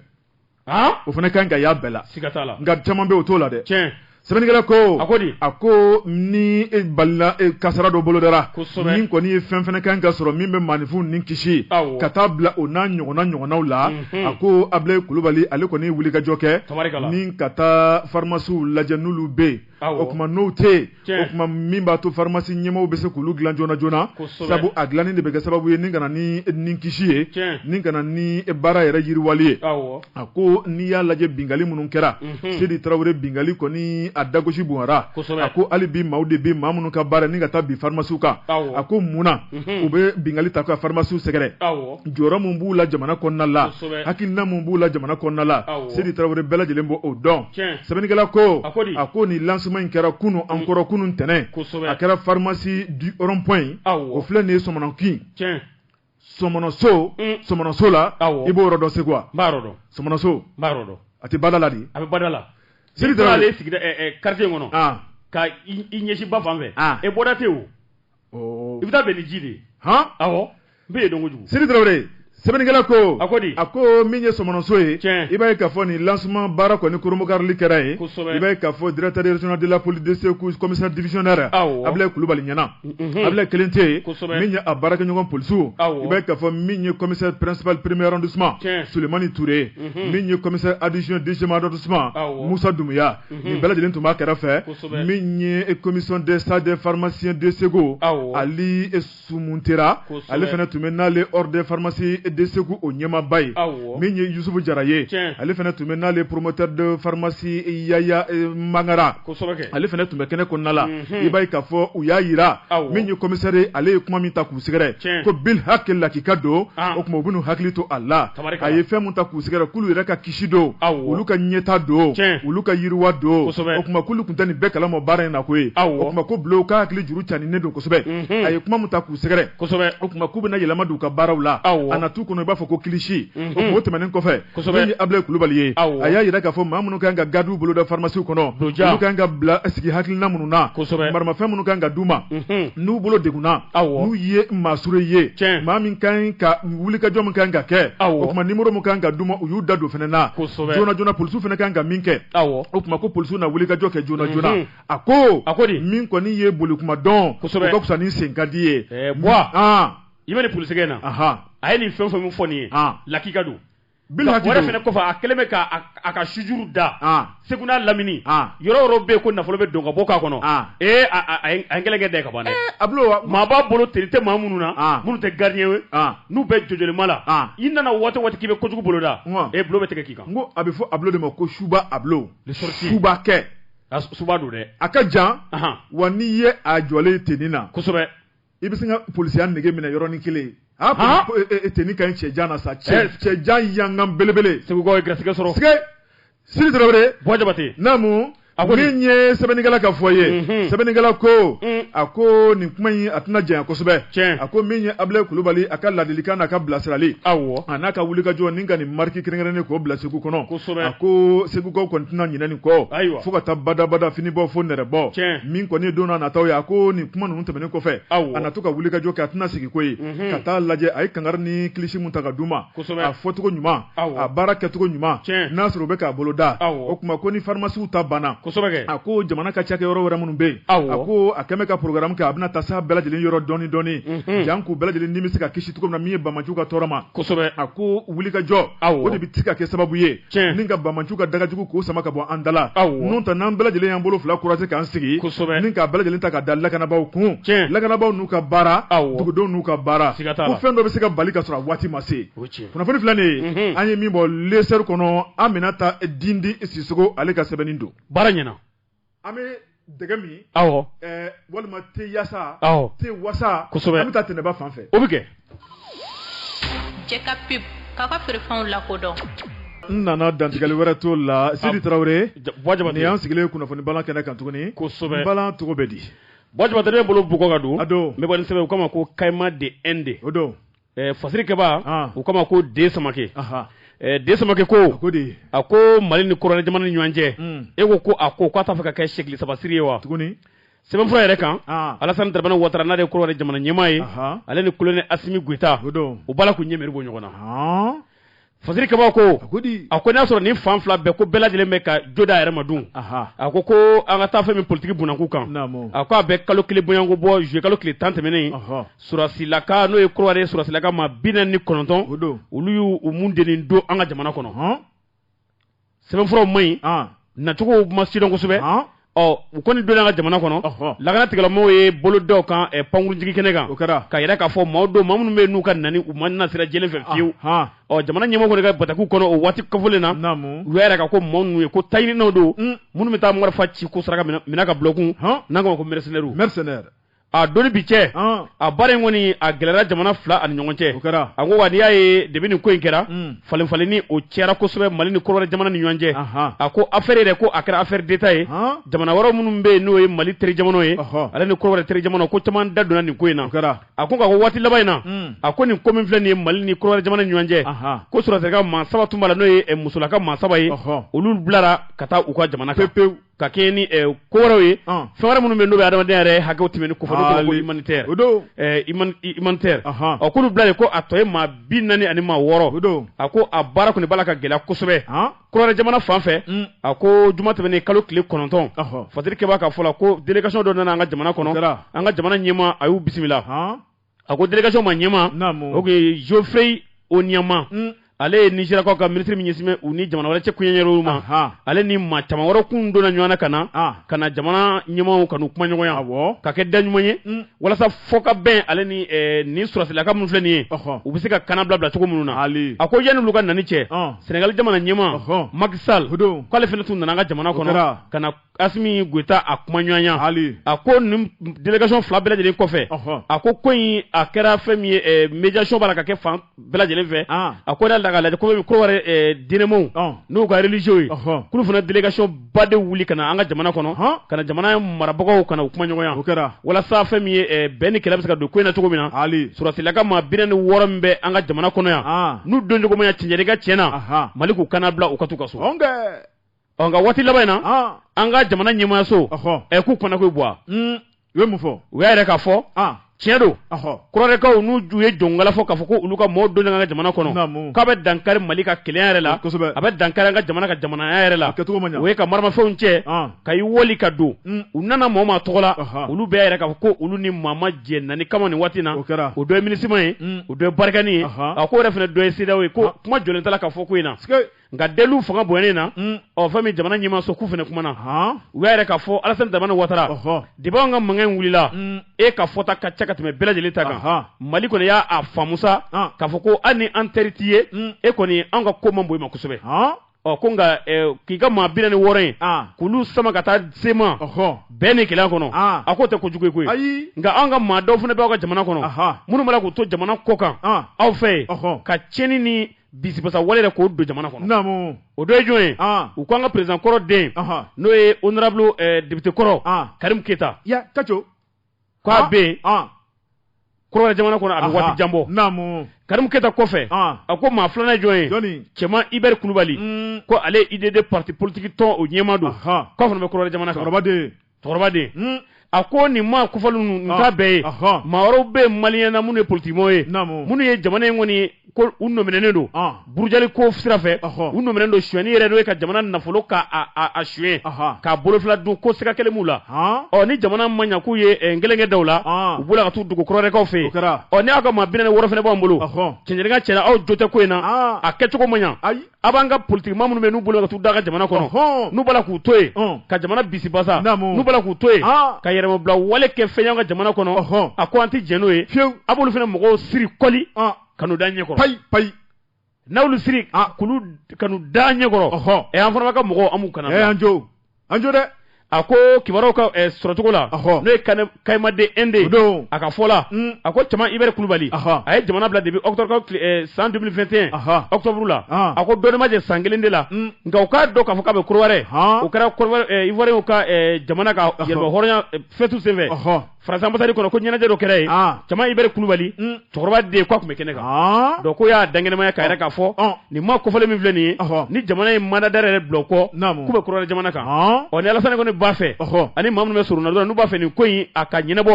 Speaker 2: o fana kan ka y'a bɛɛ la siga t'a la nka caman bɛ o t'o la dɛ tiɲɛ sɛbɛnnikɛla ko a ko di a ko ni e balinan e kasara dɔ bolodara kosɛbɛ min kɔni ye fɛn fana kan ka sɔrɔ min bɛ maaninfin ni kisi awɔ ka taa bila o n'a ɲɔgɔnna ɲɔgɔnnaw la a ko Abilaye Kulubali ale kɔni ye wulikajɔ kɛ tabarikala ni ka taa pharmacies lajɛ n'olu bɛ yen o kuma n'o tɛ o kuma min b'a to farimasi ɲɛmaa bɛ se k'olu dilan joona joona sabu a dilanni de bɛ kɛ sababu ye ni kana ni ni kisi ye ni kana ni baara yɛrɛ yiriwali ye a ko n'i y'a lajɛ bingali minnu kɛra sidi tarawele bingali kɔni a dagosi bonyara a ko hali bi maaw de bi maa minnu ka baara ni ka taa bin farimasiw kan a ko munna u bɛ bingali ta ka farimasiw sɛgɛrɛ jɔyɔrɔ min b'u la jamana kɔnɔna la hakilina min b'u la jamana kɔnɔna la sidi tarawele bɛɛ lajɛlen b'o dɔn sɛbɛnnikɛla ko a ko nin lancement in kɛra kunun an kɔrɔ kunun ntɛnɛn a kɛra pharmacie du rond point o filɛ nin ye sɔmɔnɔkin sɔmɔnɔso sɔmɔnɔso la i b'o yɔrɔ dɔn segu wa sɔmɔnɔso a tɛ bada la dɛ a bɛ bada la sidi quartier kɔnɔ k'i ɲɛsin ba fan fɛ e bɔda tɛ i bɛ taa bɛn ni ji de ye hɔn awɔ n bɛ yen dɔn kojugu Sidi Tarawele sɛbɛnnikɛla ko a ko di a ko min ye sɔmɔnɔso ye tiɲɛ i b'a ye k'a fɔ nin lancement baara kɔni koromokarili kɛra yen kosɛbɛ i b'a ye k'a fɔ directeur régional de la police de Segu commissaire divisionnaire awɔ Abilaye Kulubali ɲɛna unhun Abilaye kelen tɛ yen kosɛbɛ min ye a baarakɛɲɔgɔn polisiw awɔ i b'a ye k'a fɔ min ye commissaire principal premier arrondissement tiɲɛ Sulemani Ture unhun min ye commissaire adjoint deuxième arrondissement awɔ Musa Dunbuya nin bɛɛ lajɛlen tun b'a kɛrɛfɛ min ye commission des sages des pharmaciens de segu ali sumuntera ale fana tun bɛ n'ale ordre des pharmaciens de segu o ɲɛmaaba ye min ye yusufu jara ye ale fana tun bɛ n'ale promoteur de pharmacie yaya mangara ale fana tun bɛ kɛnɛ kɔnɔna la i b'a ye k'a fɔ u y'a jira min ye commissaire ye ale ye kuma min ta k'u sɛgɛrɛ ko bilhaki lakika don o tuma u bɛn'u hakili to a la tari a ye fɛn min ta k'u sɛgɛrɛ k'olu yɛrɛ ka kisi don olu ka ɲɛta don olu ka yiriwa don o tuma k'olu tun tɛ nin bɛɛ kalama baara in na koyi o tuma ko ablo ka hakili juru janyanen don kosɛbɛ a ye kuma min ta k'u sɛgɛrɛ o tuma k'u bɛna yɛlɛma don u ka baaraw la a nataw kɔnɔ i b'a fɔ ko kilisi o tɛmɛnen kɔfɛ min ye ablaye kulubali ye a y'a jira k'a fɔ maa minnu kan ka gardiw boloda pharmacie kɔnɔ olu kan ka bila sigi hakilina minnu na maramafɛn minnu kan ka d'u ma n'u bolo degunna n'u ye maasuru ye maa min kan ka wulikajɔ min kan ka kɛ o tuma numéro min kan ka d'u ma u y'u da don fana na joona joona polisiw fana kan ka min kɛ o tuma ko polisiw na wulikajɔ kɛ joona joona mhm. a ko a ko min kɔni ye bolikuma
Speaker 3: dɔn o
Speaker 2: ka fisa ni sen ka di ye i
Speaker 3: bɛ nin
Speaker 2: polisikɛ na a ye
Speaker 3: nin fɛn fɛn min fɔ nin ye lakika don kɔfɛ a kɛlen bɛ k'a ka sujuru da segu n'a lamini yɔrɔ yɔrɔ bɛ ko nafolo bɛ don ka bɔ k'a kɔnɔ a ye kɛlɛkɛ da ka ban a maa b'a bolo teni tɛ maa minnu na minnu tɛ gardi ye n'u bɛ jojlima la i nana waati waati k'i bɛ kojugu boloda e bolo bɛ tigɛ k'i kan a bɛ fɔ ablo de
Speaker 2: ma ko suba ablo suba kɛ suba don dɛ
Speaker 3: a ka jan
Speaker 2: wa n'i ye a jɔlen teni na kosɛbɛ i
Speaker 3: bɛ se
Speaker 2: ka polisiya nege minɛ yɔrɔnin kelen teni ka ɲi cɛ jan na sa cɛ jan yangan belebele segukaw ye garisɛgɛ
Speaker 3: sɔrɔ sidi
Speaker 2: jabate naamu min ye sɛbɛnnikɛla ka fɔ ye sɛbɛnnikɛla ko a ko nin kuma in a tɛna janya kosɛbɛ a ko min ye ablaye kulubali a ka ladilikan n'a ka bilasirali a n'a ka wulikajɔ ni ka nin marque kɛrɛnkɛrɛnnen k'o bila segu kɔnɔ a ko segukaw kɔni tɛna ɲina nin kɔ fo ka taa badabada finibɔ fo nɛrɛbɔ min kɔni ye don nataw ye a ko nin kuma tɛmɛnen kɔfɛ a na to ka wulikajɔ kɛ a tɛna sigi ko ye ka taa lajɛ a ye kangari ni kilisi min ta ka d'u ma a fɔcogo ɲuman a baara kɛcogo ɲuman n'a sɔrɔ u bɛ k'a bolo da o tuma ko ni farimasiw ta banna a ko jamana ka cakɛ yɔrɔ wɛrɛ minnu bɛ yen a ko a kɛlen bɛ ka programme kɛ a bɛna taa s'a bɛɛ lajɛlen yɔrɔ dɔɔni dɔɔni jan k'u bɛɛ lajɛlen ni bɛ se ka kisi cogo min na min ye banbaanciw ka tɔɔrɔ ma a ko wulikajɔ o de bɛ se ka kɛ sababu ye ni ka banbaanciw ka dagajugu k'o sama ka bɔ an da la n'o tɛ n'an bɛɛ lajɛlen y'an bolo fila kurase k'an sigi ni k'a bɛɛ lajɛlen ta ka da lakanabaaw kun lakanabaaw n'u ka baara dugudenw n'u ka baara ko fɛn dɔ bɛ se ka bali ka sɔrɔ a waati ma se kunnafoni filɛ nin ye an ye min bɔ lesɔri kɔnɔ aminata dindi sisoko ale ka sɛbɛnni don baara ɲɛna
Speaker 3: an
Speaker 2: bɛ dɛgɛ min walima te yaasa te wasa kosɛbɛ an bɛ taa tɛnɛba fan fɛ o bɛ kɛ
Speaker 4: cɛ ka pub k'a ka feerefɛnw lakodɔn n
Speaker 2: nana dantigɛli wɛrɛ t'o la sidi tarawele nin y'an sigilen kunnafoni bala kɛnɛ kan tuguni kosɛbɛ bala tɔgɔ bɛ di ba bolo
Speaker 3: bug ka don a don sɛbɛn o kama ma ko kayima de e de o don fasirikɛba u kama ko de samakɛ de samakɛ ko a ko mali ni kɔrɔwari jamana ni ɲɔgɔn cɛ e ko ko a ko k'a t'a fɛ ka kɛ seli sabasiri ye wa tuguni sɛbɛnfura
Speaker 2: yɛrɛ
Speaker 3: kan alasani daramani watara n'ale de kɔrɔwari jamana ɲɛmaa ye ale ni kolonɛli asimi goyita u b'a la k'u ɲɛmɛru bɔ ɲɔgɔn na Fasiri kɛba ko a ko n'a sɔrɔ ni fan fila bɛɛ ko bɛɛ lajɛlen bɛ ka jo d'a yɛrɛ ma dun a ko ko an ka taa fɛn min politigi bunakun kan a ko a bɛ kalo kelen bɔyanko bɔ juillet kalo tile tan tɛmɛnen sɔrɔsilaka n'o ye kɔrɔwari sɔrɔsilaka maa bi naani ni kɔnɔntɔn olu y'u mun deni don an ka jamana kɔnɔ sɛbɛnfuraw man ɲi ah. nacogo ma sidɔn kosɛbɛ ah. ɔ u kɔni donna an ka jamana kɔnɔ lakana tigilamɔgɔw ye bolo da u kan eh, pankurunjigi kɛnɛ kan o kɛra k'a yira k'a fɔ maaw don maa minnu bɛ n'u ka nani u ma na sira jɛlen fɛ ah, fiyewu ɔ jamana ɲɛmɔgɔ kɔni ka batakiw kɔnɔ o waati kofɔlen na u y'a yira ka ko maaw ninnu ye ko taɲininaw don hmm. minnu bɛ taa marifa ci k'o sara ka minɛ ka bil'u kun n'an k'o ma ko mɛrɛsɛnɛriw a don ni bi cɛ ɔn a baara in kɔni a gɛlɛra jamana fila ani ɲɔgɔn cɛ o kɛra a ko wa n'i y'a ye depuis nin ko in kɛra Mm. falenfalenni o cɛra kosɛbɛ mali ni kɔrɔwari jamana ni ɲɔgɔn cɛ Ahan. a ko affaire yɛrɛ ko a kɛra affaire d'état ye Han. jamana wɛrɛ minnu bɛ yen n'o ye mali teri jamanaw ye Ɔhɔ. ale ni kɔrɔwari teri jamanaw ko caman da donna nin ko in na o kɛra a ko nka ko waati laban in na Mm. a ko nin ko min filɛ nin ye mali ni kɔrɔwari jamana ni ɲɔgɔn cɛ Ahan. ko sɔrɔsirika maa saba tun b'a la n'o ye eh, musolaka maa saba ye Ɔhɔ. olu bilara ka taa u ka jamana kan pepewu ka kɛɲɛ ni eh, ko wɛrɛw ye Ɔn. fɛn wɛrɛ minnu bɛ yen n'o bɛ adamadenya yɛrɛ hakɛw tɛmɛni kofɔ n'o tɔgɔ ko Ali. humanitaire O don. eh, human- i- humanitaire Ahan. ɔ k'olu bilalen ko a tɔ ye maa bi naani ani maa wɔɔrɔ O don. a ko a baara kɔni b'a la ka gɛlɛya kosɛbɛ Han. kɔrɔwari jamana fan fɛ Mm. a ko juma tɛmɛnen kalo tile kɔnɔntɔn Ɔhɔ. fasiri kɛba ka fɔ la ko délégation dɔ nana an ka jamana O kɛra. kɔnɔ an ka jamana ɲɛmaa a y'u bisimila Han. a ko délégation ma ɲɛmaa o tun ye geoffrey onyeama mm. ale ye nizeriyakaw ka minisiri min ɲɛsinnen bɛ u ni jamana wɛrɛ cɛ kuɲɛɲɛrɛw ma ale ni maa caman wɛrɛ kun donna ɲɔgɔn na ka na ah. ka na jamana ɲɛmaaw ka n'u kumaɲɔgɔnya ka kɛ da ɲuman ye mm. walasa fɔkabɛn ale ni eh, nin sɔrɔsilaka minnu filɛ nin ye u bɛ se ka kannabila bila cogo minnu na a ko yanni olu ka nani cɛ ah. senegali jamana ɲɛmaa maki sal k'ale fana tun nana an ka jamana kɔnɔ ka na Asimi Goyita a kumaɲɔgɔnya, Hali, a ko nin délégation fila bɛɛ lajɛlen kɔfɛ, ɔhɔ, a ko ko in a kɛra fɛn min ye ɛ médiation b'a la ka kɛ fan bɛɛ lajɛlen fɛ, an, a ko n'a nana ka lajɛ komi Kodiwari ɛ diinɛmɔɔw, ɔn, n'u ka religieux ye, ɔhɔ, k'olu fana délégation ba de wuli ka na an ka jamana kɔnɔ, han, ka na jamana marabagaw ka na u kumaɲɔgɔnya, o kɛra, walasa fɛn min ye ɛ bɛn ni kelen bɛ se ka don ko in na cogo min na, hali, sɔrɔsilaka maa bi naani ni wɔɔrɔ min bɛ an ka jamana kɔnɔ yan, an, n'u doncogo ma ɲɛ cɛncɛnni kan tiɲɛ na, anhan, Mali k'u kannabila u ka t'u ka so, ɔn kɛ ɔ nka waati laban in na ah. an ka jamana ɲɛmaayaso ɛ k'u kɔnɔko bɔ hmm. u ye mun fɔ u y'a yira k'a fɔ ah. tiɲɛ don Kɔdiwarikaw n'u ju ye jɔnkala fɔ k'a fɔ ko olu ka mɔɔ don an ka jamana kɔnɔ k'a bɛ dankari mali ka kelenya yɛrɛ la a bɛ dankari an ka jamana ka jamanaya yɛrɛ la o ye ka maramafɛnw cɛ ah. ka i wali ka don hmm. u nana mɔɔ min tɔgɔ la olu bɛɛ y'a yira k'a fɔ ko olu ni maa ma jɛ nani kama nin waati na o dɔ ye MINUSMA ye hmm. o dɔ ye barikani ye a ko yɛrɛ fana dɔ ye CEDEAO ye ko kuma jɔlen t'a la ka fɔ ko in na nka deliw fanga bonyalen na mm. ɔ fɛn min jamana ɲɛmaaso k'u fana kumana u y'a yira k'a fɔ Alassane Dramane Ouattara depuis anw ka mankan in wulila mm. e ka fɔta ka ca ka tɛmɛ bɛɛ lajɛlen ta kan Mali kɔni y'a faamu sa k'a fɔ ko hali ni an teri t'i ye mm. e kɔni anw ka ko man bon i ma kosɛbɛ ɔ ko nka k'i ka maa bi naani wɔɔrɔ in k'olu sama ka taa sema bɛɛ ni kɛlɛ kɔnɔ a k'o tɛ kojugu ye koyi nka anw ka maa dɔw fana bɛ aw ka jamana kɔnɔ minnu b'a la k'u to jamana kɔkan aw fɛ yen ka tiɲɛni ni bisibasa wale yɛrɛ k'o don jamana kɔnɔ o dɔ ye jɔn ye u ko an ka président kɔrɔ den n'o ye honorable député kɔrɔ Karim Keita a k'a bɛ Kɔdiwari jamana kɔnɔ a bɛ waati jan bɔ Karim Keita kɔfɛ a ko maa filanan ye jɔn ye Tiéman Hubert Coulibaly ko ale UDD parti politigi tɔn o ɲɛmaa don k'a fana bɛ Kɔdiwari jamana cɛkɔrɔbaden a ko nin maa kofɔlen ninnu t'a bɛɛ ye maa wɛrɛw bɛ maliyɛnw na minnu ye politigimaa ye minnu ye jamana in kɔni u nɔminɛnen don ah. burujali ko sira fɛ u nɔminɛnen don suɲɛni yɛrɛ n'o ye ka jamana nafolo k'a suɲɛ k'a bolofila dun ko siga kɛlen b'u la ah. ɔ ni jamana ma ɲɛ k'u ye eh, gelenkɛ da la u bolila ka t'u dogo Kɔdiwarikaw fɛ yen ɔ ni aw ka maa bi naani wɔɔrɔ fana b'an bolo cɛn ni Ngala cɛ aw jo tɛ ko in na a kɛcogo ma ɲɛ a b'an ka politikimaa minnu bɛ n'u boli ka t'u da ka jamana kɔnɔ n'u b'a la k'u to yen ka jamana bisibasa n'u b'a la k'u to yen ka yɛrɛmabila wale kɛ f'an ka jamana kɔnɔ a ko an tɛ jɛn n'o ye fiyewu a b'olu fana mɔgɔw siri kɔli ka n'u da ɲɛ kɔrɔ payi payi n'a y'olu siri k'olu ka n'u da ɲɛ kɔrɔ ɛ an fana b'a ka mɔgɔw an b'u kana y'an jo an jo dɛ a ko kibaruyaw ka eh, sɔrɔcogo la Ɔhɔ. n'o ye Kane- kayimade ende O don. a ka fɔ la Mm. a ko Tiéman Hubert Coulibaly Ɔhɔ. a ye jamana bila depuis octobre tile- eh, san 2021 Ɔhɔ. octobre la Ah. a ko dɔɔnin b'a jɛ san kelen de la Mm. nka u k'a dɔn k'a fɔ k'a bɛ Kɔdiwari Han. o kɛra Kɔdiwari ivoiriyɛnw ka eh, jamana ka yɛrɛmahɔrɔnya eh, fɛti senfɛ Ɔhɔ. Faransi ambasadi kɔnɔ ko ɲɛnajɛ dɔ kɛra yen ah. Tiéman Hubert Coulibaly mm. cɛkɔrɔba den k'a tun bɛ kɛnɛ kan ah. donc k'o y'a dankɛnɛmaya k'a yira k'a fɔ ah. nin maa kofɔlen minnu filɛ nin ye ni jamana ye mandat d'arrêt yɛrɛ bila u kɔ k'u bɛ Kɔdiwari jamana kan ɔ ni alasani kɔni b'a fɛ ani maa minnu bɛ surunna dɔrɔn n'u b'a fɛ nin ko in a ka ɲɛnabɔ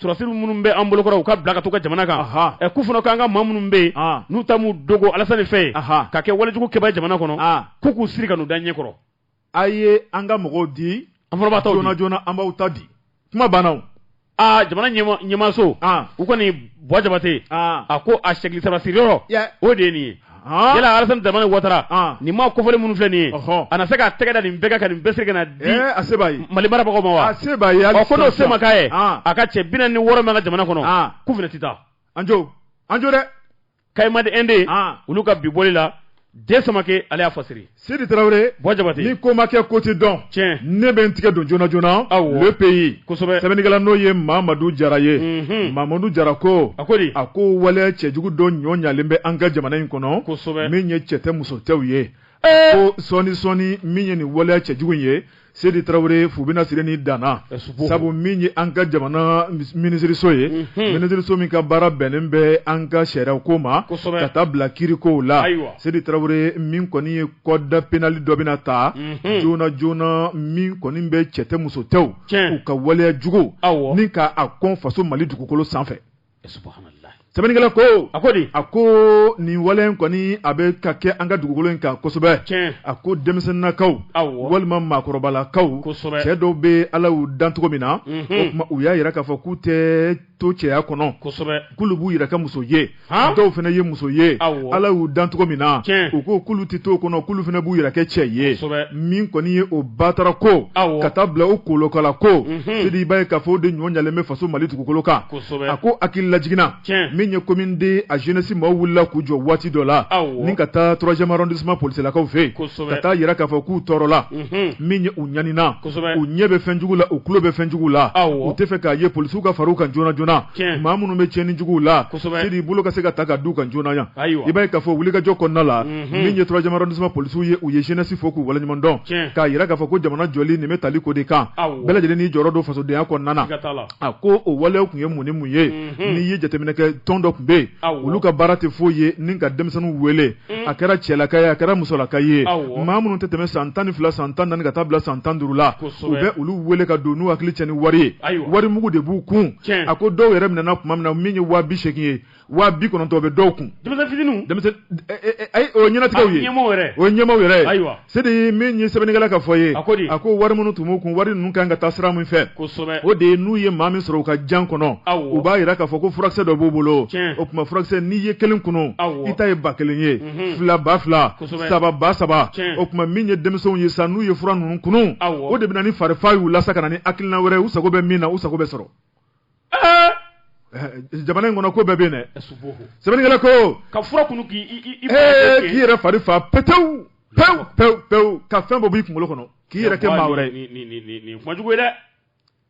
Speaker 3: sɔrɔdasiw minnu bɛ an bolokɔrɔ u ka bila ka t'u ka jamana kan ɛ k'u fana k'an ka maa minnu bɛ yen n'u taalen b'u dogo alasani fɛ yen ka kɛ walejugu kɛbaa jamana kɔnɔ k'u k'u siri ka n'u da ɲɛ kɔrɔ a
Speaker 2: ye an ka mɔgɔw di an fana b'aw ta joona
Speaker 3: joona an b'aw ta
Speaker 2: di kuma banna aa
Speaker 3: jamana ɲɛmaaso u kɔni buwa jabate a ko a sɛgili sabasiri yɔrɔ o de ye nin ye yala alasani daramani watara nin maa kofɔlen minnu filɛ nin ye a na se k'a tɛgɛ da nin bɛɛ kan ka nin bɛɛ siri ka na di a se b'a ye
Speaker 2: mali marabagaw ma wa a
Speaker 3: se b'a ye ɔ ko
Speaker 2: n'o
Speaker 3: se
Speaker 2: ma k'a ye
Speaker 3: a ka cɛ bi naani ni wɔɔrɔ min b'an ka jamana kɔnɔ k'u fana tɛ taa an jo
Speaker 2: an jo dɛ kayima
Speaker 3: de ende ah. olu ka bi bɔli la den samake ale y'a fasiri sidi tarawele
Speaker 2: buwa jabate ni ko ma kɛ
Speaker 3: ko tɛ
Speaker 2: dɔn tiɲɛ ne bɛ n tɛgɛ don joona joona awɔ le pays kosɛbɛ sɛbɛnnikɛla n'o
Speaker 3: ye
Speaker 2: mamadu jara ye mhm. mamadu jara ko a ko di a ko waleya cɛjugu dɔ ɲɔɲalen bɛ an ka jamana in kɔnɔ kosɛbɛ min ye cɛ tɛ
Speaker 3: muso
Speaker 2: tɛw ye ko sɔɔni sɔɔni min ye nin waleya cɛjugu in ye Sidi Tarawele fu bɛna siri nin dan na, sabu min ye an ka jamana minisiriso ye, unhun, minisiriso min ka baara bɛnnen bɛ an ka sariyako ma, kosɛbɛ, ka taa bila kiirikow la, ayiwa, Sidi Tarawele min kɔni ye code pénal dɔ bɛna ta, unhun, joona joona min kɔni bɛ cɛ tɛ muso tɛw u ka waleya juguw, awɔ, ni ka a kɔn faso Mali dugukolo sanfɛ. sɛbɛnnikɛla ko a ko a ko nin waleya kɔni a bɛ ka kɛ an ka dugukolo in kan kosɛbɛ a ko denmisɛnninakaw walima maakɔrɔbalakaw cɛ dɔw bɛ ala y'u dan cogo min na u y'a jira k'a fɔ k'u tɛ to cɛya kɔnɔ k'olu b'u yɛrɛ kɛ muso ye dɔw fana ye muso ye ala y'u dan cogo min na u ko k'olu tɛ to o kɔnɔ k'olu fana b'u yɛrɛ kɛ cɛ ye min kɔni ye o batarako ka taa bila o kolokala ko sidi i b'a ye k'a fɔ o de ɲɔɲalen bɛ faso mali dugukolo kan a ko hakili lajigin na min ye commune deux a jeunesse maaw wulila k'u jɔ waati dɔ la ni ka taa troisième arrondissement polisilakaw fɛ yen ka taa jira k'a fɔ k'u tɔɔrɔla min ye u ɲanina u ɲɛ bɛ fɛn jugu la u tulo bɛ fɛn jugu la u tɛ fɛ k'a ye polisiw ka far'u kan joona joona maa minnu bɛ cɛnni jugu la y'i bolo ka se ka taa ka d'u kan joona yan i b'a ye k'a fɔ wulikajɔ kɔnɔna la min ye troisième arrondissement polisiw ye u ye jeunesse fo k'u waleɲumandɔn k'a jira k'a fɔ ko jamana jɔli nin bɛ tali k'o de kan bɛɛ lajɛlen jɔyɔrɔ don fasodenya kɔnɔna a ko o walew tun ye mun ni mun ye n'i ye jateminɛ kɛ tɔn dɔ tun bɛ yen olu ka baara tɛ foyi ye ni ka denmisɛnninw wele a kɛra cɛlaka ye a kɛra musolaka ye maa minnu tɛ tɛmɛ san tan ni fila san tan ka taa bila san tan duuru la u bɛ olu wele ka don n'u hakili cɛn ni wari ye wari mugu de b'u kun a ko dɔw yɛrɛ minɛna tuma min na min ye waa bi seegin ye waa bi kɔnɔntɔn bɛ dɔw kun ɲɛnatigiw ye o ɲɛmaaw yɛrɛ ayiwa sidi min ye sɛbɛnnikɛla ka fɔ ye a a ko wari minnu tun b'u kun wari ninnu kan ka taa sira min fɛ o de ye n'u ye maa min sɔrɔ u ka jan kɔnɔ u b'a jira k'a fɔ ko furakisɛ dɔ b'u bolo o tuma furakisɛ n'i ye kelen kunun i ta ye ba kelen ye fila ba fila saba ba saba o tuma min ye denmisɛnw ye sa n'u ye fura ninnu kunun o de bɛ na ni farifa y'u la sa ka na ni hakilina wɛrɛ u sago bɛ min na u sago bɛ sɔrɔ jamana in kɔnɔ ko bɛɛ bɛ yen dɛ sɛbɛnnikɛla ko ka fura
Speaker 3: kunu k'i yɛrɛ
Speaker 2: fari fa petewu pewu pewu pewu ka fɛn bɔ b'i kunkolo kɔnɔ k'i yɛrɛ kɛ maa wɛrɛ ye kuma jugu ye
Speaker 3: dɛ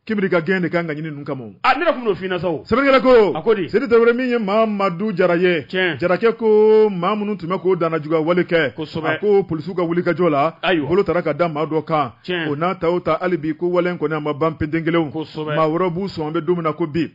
Speaker 3: kibiri ka
Speaker 2: gɛɲɛ de ka kan ka ɲini ninnu kama a ne tun b'o f'i ɲɛna
Speaker 3: sa sɛbɛnnikɛla ko a ko
Speaker 2: di sidi tarawele min ye mamadu jara ye tiɲɛ jarakɛ ko maa minnu tun bɛ ka dannajuguya wale kɛ kosɛbɛ a ko polisiw ka wulikajɔ la ayiwa bolo taara ka da maa dɔ kan o n'a ta o ta hali bi ko wale in kɔni a ma ban penten kelenw maa wɛrɛ b'u sɔn an bɛ don min na ko bi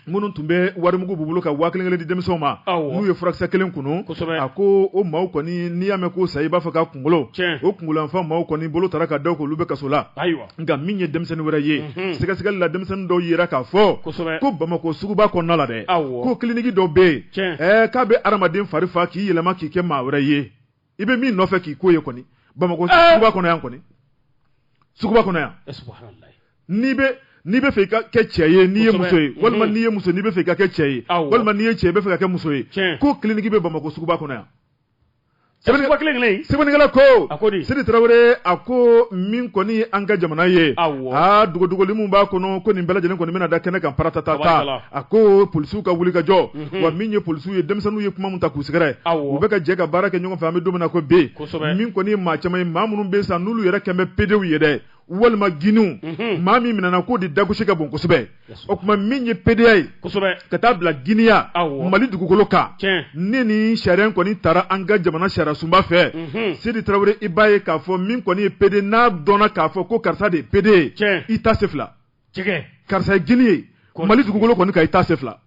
Speaker 2: minnu tun bɛ warimugu b'u bolo ka waa kelen di denmisɛnw ma n'u ye furakisɛ kelen kunu a ko o maaw kɔni n'i y'a mɛn ko sa i b'a fɔ ka kunkolo o kunkolo fan maaw kɔni bolo taara ka da k'olu bɛ kaso la ayiwa nka min ye denmisɛnnin wɛrɛ ye sɛgɛsɛgɛli la denmisɛnnin dɔw y'a yira k'a fɔ ko bamakɔ suguba kɔnɔna la dɛ ko kiliniki dɔ bɛ yen k'a bɛ hadamaden fari fa k'i yɛlɛma k'i kɛ maa wɛrɛ ye i bɛ min nɔfɛ k'i ko ye kɔni bamakɔ eh! suguba kɔnɔ yan kɔni suguba kɔnɔ yan eh, n'i bɛ n'i bɛ fɛ i ka kɛ cɛ ye n'i ye muso ye walima mm-hmm. n'i ye muso n'i bɛ fɛ i ka kɛ cɛ ye walima n'i ye cɛ i bɛ fɛ ka kɛ muso ye ko kiliniki bɛ bamakɔ suguba kɔnɔ yan sɛbɛnnikɛla ko sidi tarawele a ko min kɔni ye an ka jamana ye aa dogodogoli min b'a kɔnɔ ko nin bɛɛ lajɛlen kɔni bɛna da kɛnɛ kan paratata ta a ko polisiw ka wuli ka jɔ mhm. wa min ye polisiw ye denmisɛnninw ye kuma min ta k'u sɛgɛrɛ u bɛ ka jɛ ka baara kɛ ɲɔgɔn fɛ an bɛ don min na ko bi min kɔni ye maa caman ye maa minnu bɛ san n'olu yɛrɛ kɛmɛ pedew ye dɛ walima giniw mhm. maa min minɛna k'o de dagosi ka bon kosɛbɛ o tuma min ye pedeya ye ka taa bila giniya mali dugukolo kan ne ni sariya kɔni taara an ka jamana sariyasunba fɛ mhm. sidi tarawele i b'a ye k'a fɔ min kɔni ye pede n'a dɔnna k'a fɔ ko karisa de ye pede ye i ta se fila karisa ye gini ye mali dugukolo kɔni kan i ta se fila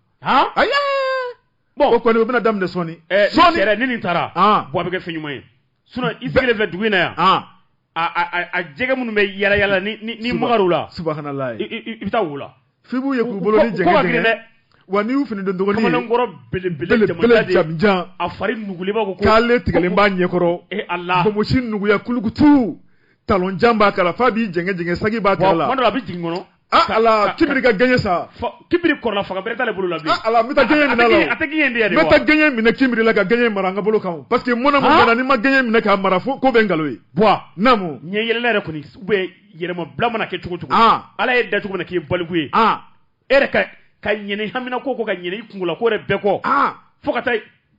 Speaker 2: o kɔni o bɛna daminɛ sɔɔni eh, sɔɔni ni nin taara
Speaker 3: ah. bɔ a bɛ kɛ fɛn ɲuman ye sinon i sigilen filɛ dugu in na yan ah. a jɛgɛ minnu bɛ yala yala ni ni magar'u la
Speaker 2: subahanallahi i bɛ taa wo
Speaker 3: la f'i b'u ye k'u bolo
Speaker 2: ni jɛngɛ jɛngɛ wa n'i y'u fini don dɔgɔnin kamalenkɔrɔ
Speaker 3: belebele jamanjan jan
Speaker 2: a fari nugulenba
Speaker 3: ko kale tigɛlen b'a
Speaker 2: ɲɛkɔrɔ e eh, Ala bonbonsi nuguya kulukutu talon jan b'a kala f'a b'i jɛngɛ jɛngɛ saki b'a kala la kuma dɔ la a bɛ jigin
Speaker 3: kɔnɔ ah ala kibiri
Speaker 2: ka gɛɲɛ sa kibiri kɔrɔla
Speaker 3: fanga bɛrɛ t'ale bolo la bilen ah ala n bɛ taa gɛɲɛ minɛ a la
Speaker 2: a tɛ gɛɲɛ de yɛrɛ wa n bɛ taa
Speaker 3: gɛɲɛ minɛ kibiri
Speaker 2: la ka gɛɲɛ mara an ka bolo kan parce que mun na mun ah! na n'i ma gɛɲɛ minɛ k'a mara fo ko bɛ nkalon ye bɔn naamu ɲɛ yɛlɛla yɛrɛ
Speaker 3: kɔni ou bien yɛlɛma bila mana kɛ cogo cogo ah! ala y'i da cogo min na k'i ye baliku ye ah! e yɛrɛ ka ka ɲinɛ haminanko kɔ ka ɲinɛ i kungola ko yɛrɛ bɛɛ kɔ fo ka taa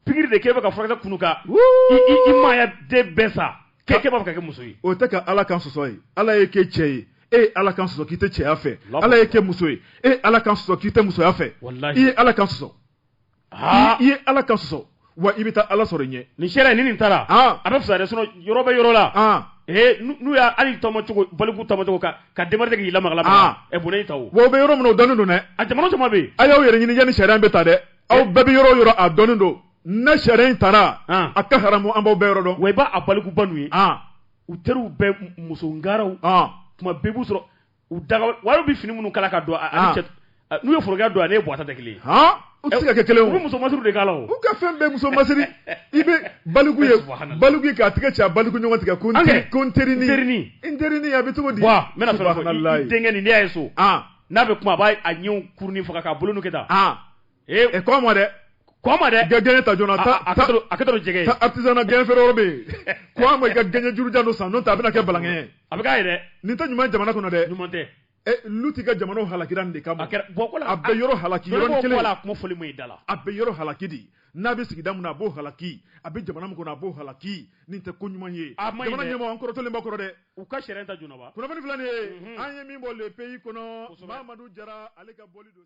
Speaker 3: pikiri de k'e bɛ ka furakisɛ kunu ka i maaya danbe sa k'e kɛ b'a fɛ ka kɛ muso ye o tɛ ka ala kan
Speaker 2: sɔsɔ ye ala y'e kɛ cɛ ye e ye ala kan sɔsɔ k'i tɛ cɛya fɛ Allahu ala y'e kɛ muso ye e ye ala kan sɔsɔ k'i tɛ musoya fɛ Walahi. i ye ala kan sɔsɔ aa i ye ala kan sɔsɔ wa i bɛ taa ala sɔrɔ i ɲɛ ni sariya nin taara
Speaker 3: Ah. a bɛ fisa dɛ sinon yɔrɔ bɛ yɔrɔ la Ah. ee n'u n'u y'a hali tɔmɔ cogo baliku tɔmɔ cogo ka ka demarche kɛ k'i lamaga lamaga Ah. ɛ bɔnɛ y'i ta o wa o bɛ yɔrɔ min na o dɔnnen don dɛ
Speaker 2: a jamana caman bɛ yen a y'aw
Speaker 3: yɛrɛ ɲini yanni sariya
Speaker 2: in bɛ ta dɛ aw bɛɛ bɛ yɔrɔ o yɔrɔ a dɔnnen don ni sariya in taara a ka haramu an b'aw bɛɛ yɔrɔ dɔn wa i b'a a balikuba
Speaker 3: n'u ye u teriw bɛɛ muso ngaraw tuma bɛɛ b'u sɔrɔ u daga wari bɛ fini minnu kala ka don n'u ye forokiya don a ni buwa ta tɛ kelen u tɛ se ka kɛ kelen
Speaker 2: u bɛ muso masiri de k'a
Speaker 3: la u ka fɛn bɛɛ muso
Speaker 2: masiri i bɛ baliku ye baliku k'a tigɛ cɛ baliku ɲɔgɔn tigɛ ko ko terini teri a bɛ cogo di
Speaker 3: denkɛ nin' ye so n'a bɛ kuma a b'a a ɲɛ kurunin faga k'a bolo kɛ tan ee kɔn a ma
Speaker 2: dɛ kɔn a ma dɛ gɛɲɛ ta joona ta a ka to
Speaker 3: jɛgɛ ta artisanat gɛɲɛ feere yɔrɔ
Speaker 2: bɛ yen kɔn a ma i ka gɛɲɛ juru jan dɔ san n'o tɛ a bɛna kɛ balankɛ ye a bɛ k'a yɛrɛ
Speaker 3: nin tɛ ɲuman jamana kɔnɔ
Speaker 2: dɛ ɲuman tɛ
Speaker 3: Luti ka jamana
Speaker 2: halakira nin de kama a bɛ
Speaker 3: yɔrɔ
Speaker 2: halaki yɔrɔ kelen a kuma fɔli ma i da
Speaker 3: la a bɛ yɔrɔ halaki
Speaker 2: de n'a bɛ sigida min na a b'o halaki a bɛ jamana min kɔnɔ a b'o halaki nin tɛ ko ɲuman ye jamana ɲɛmɔgɔ an kɔrɔtɔlen b'a kɔrɔ dɛ u ka sariya ta joona
Speaker 3: ba kunnafoni filɛ nin
Speaker 2: ye an
Speaker 3: ye
Speaker 2: min bɔ le pays kɔnɔ Mamadu Jara ale ka bɔli don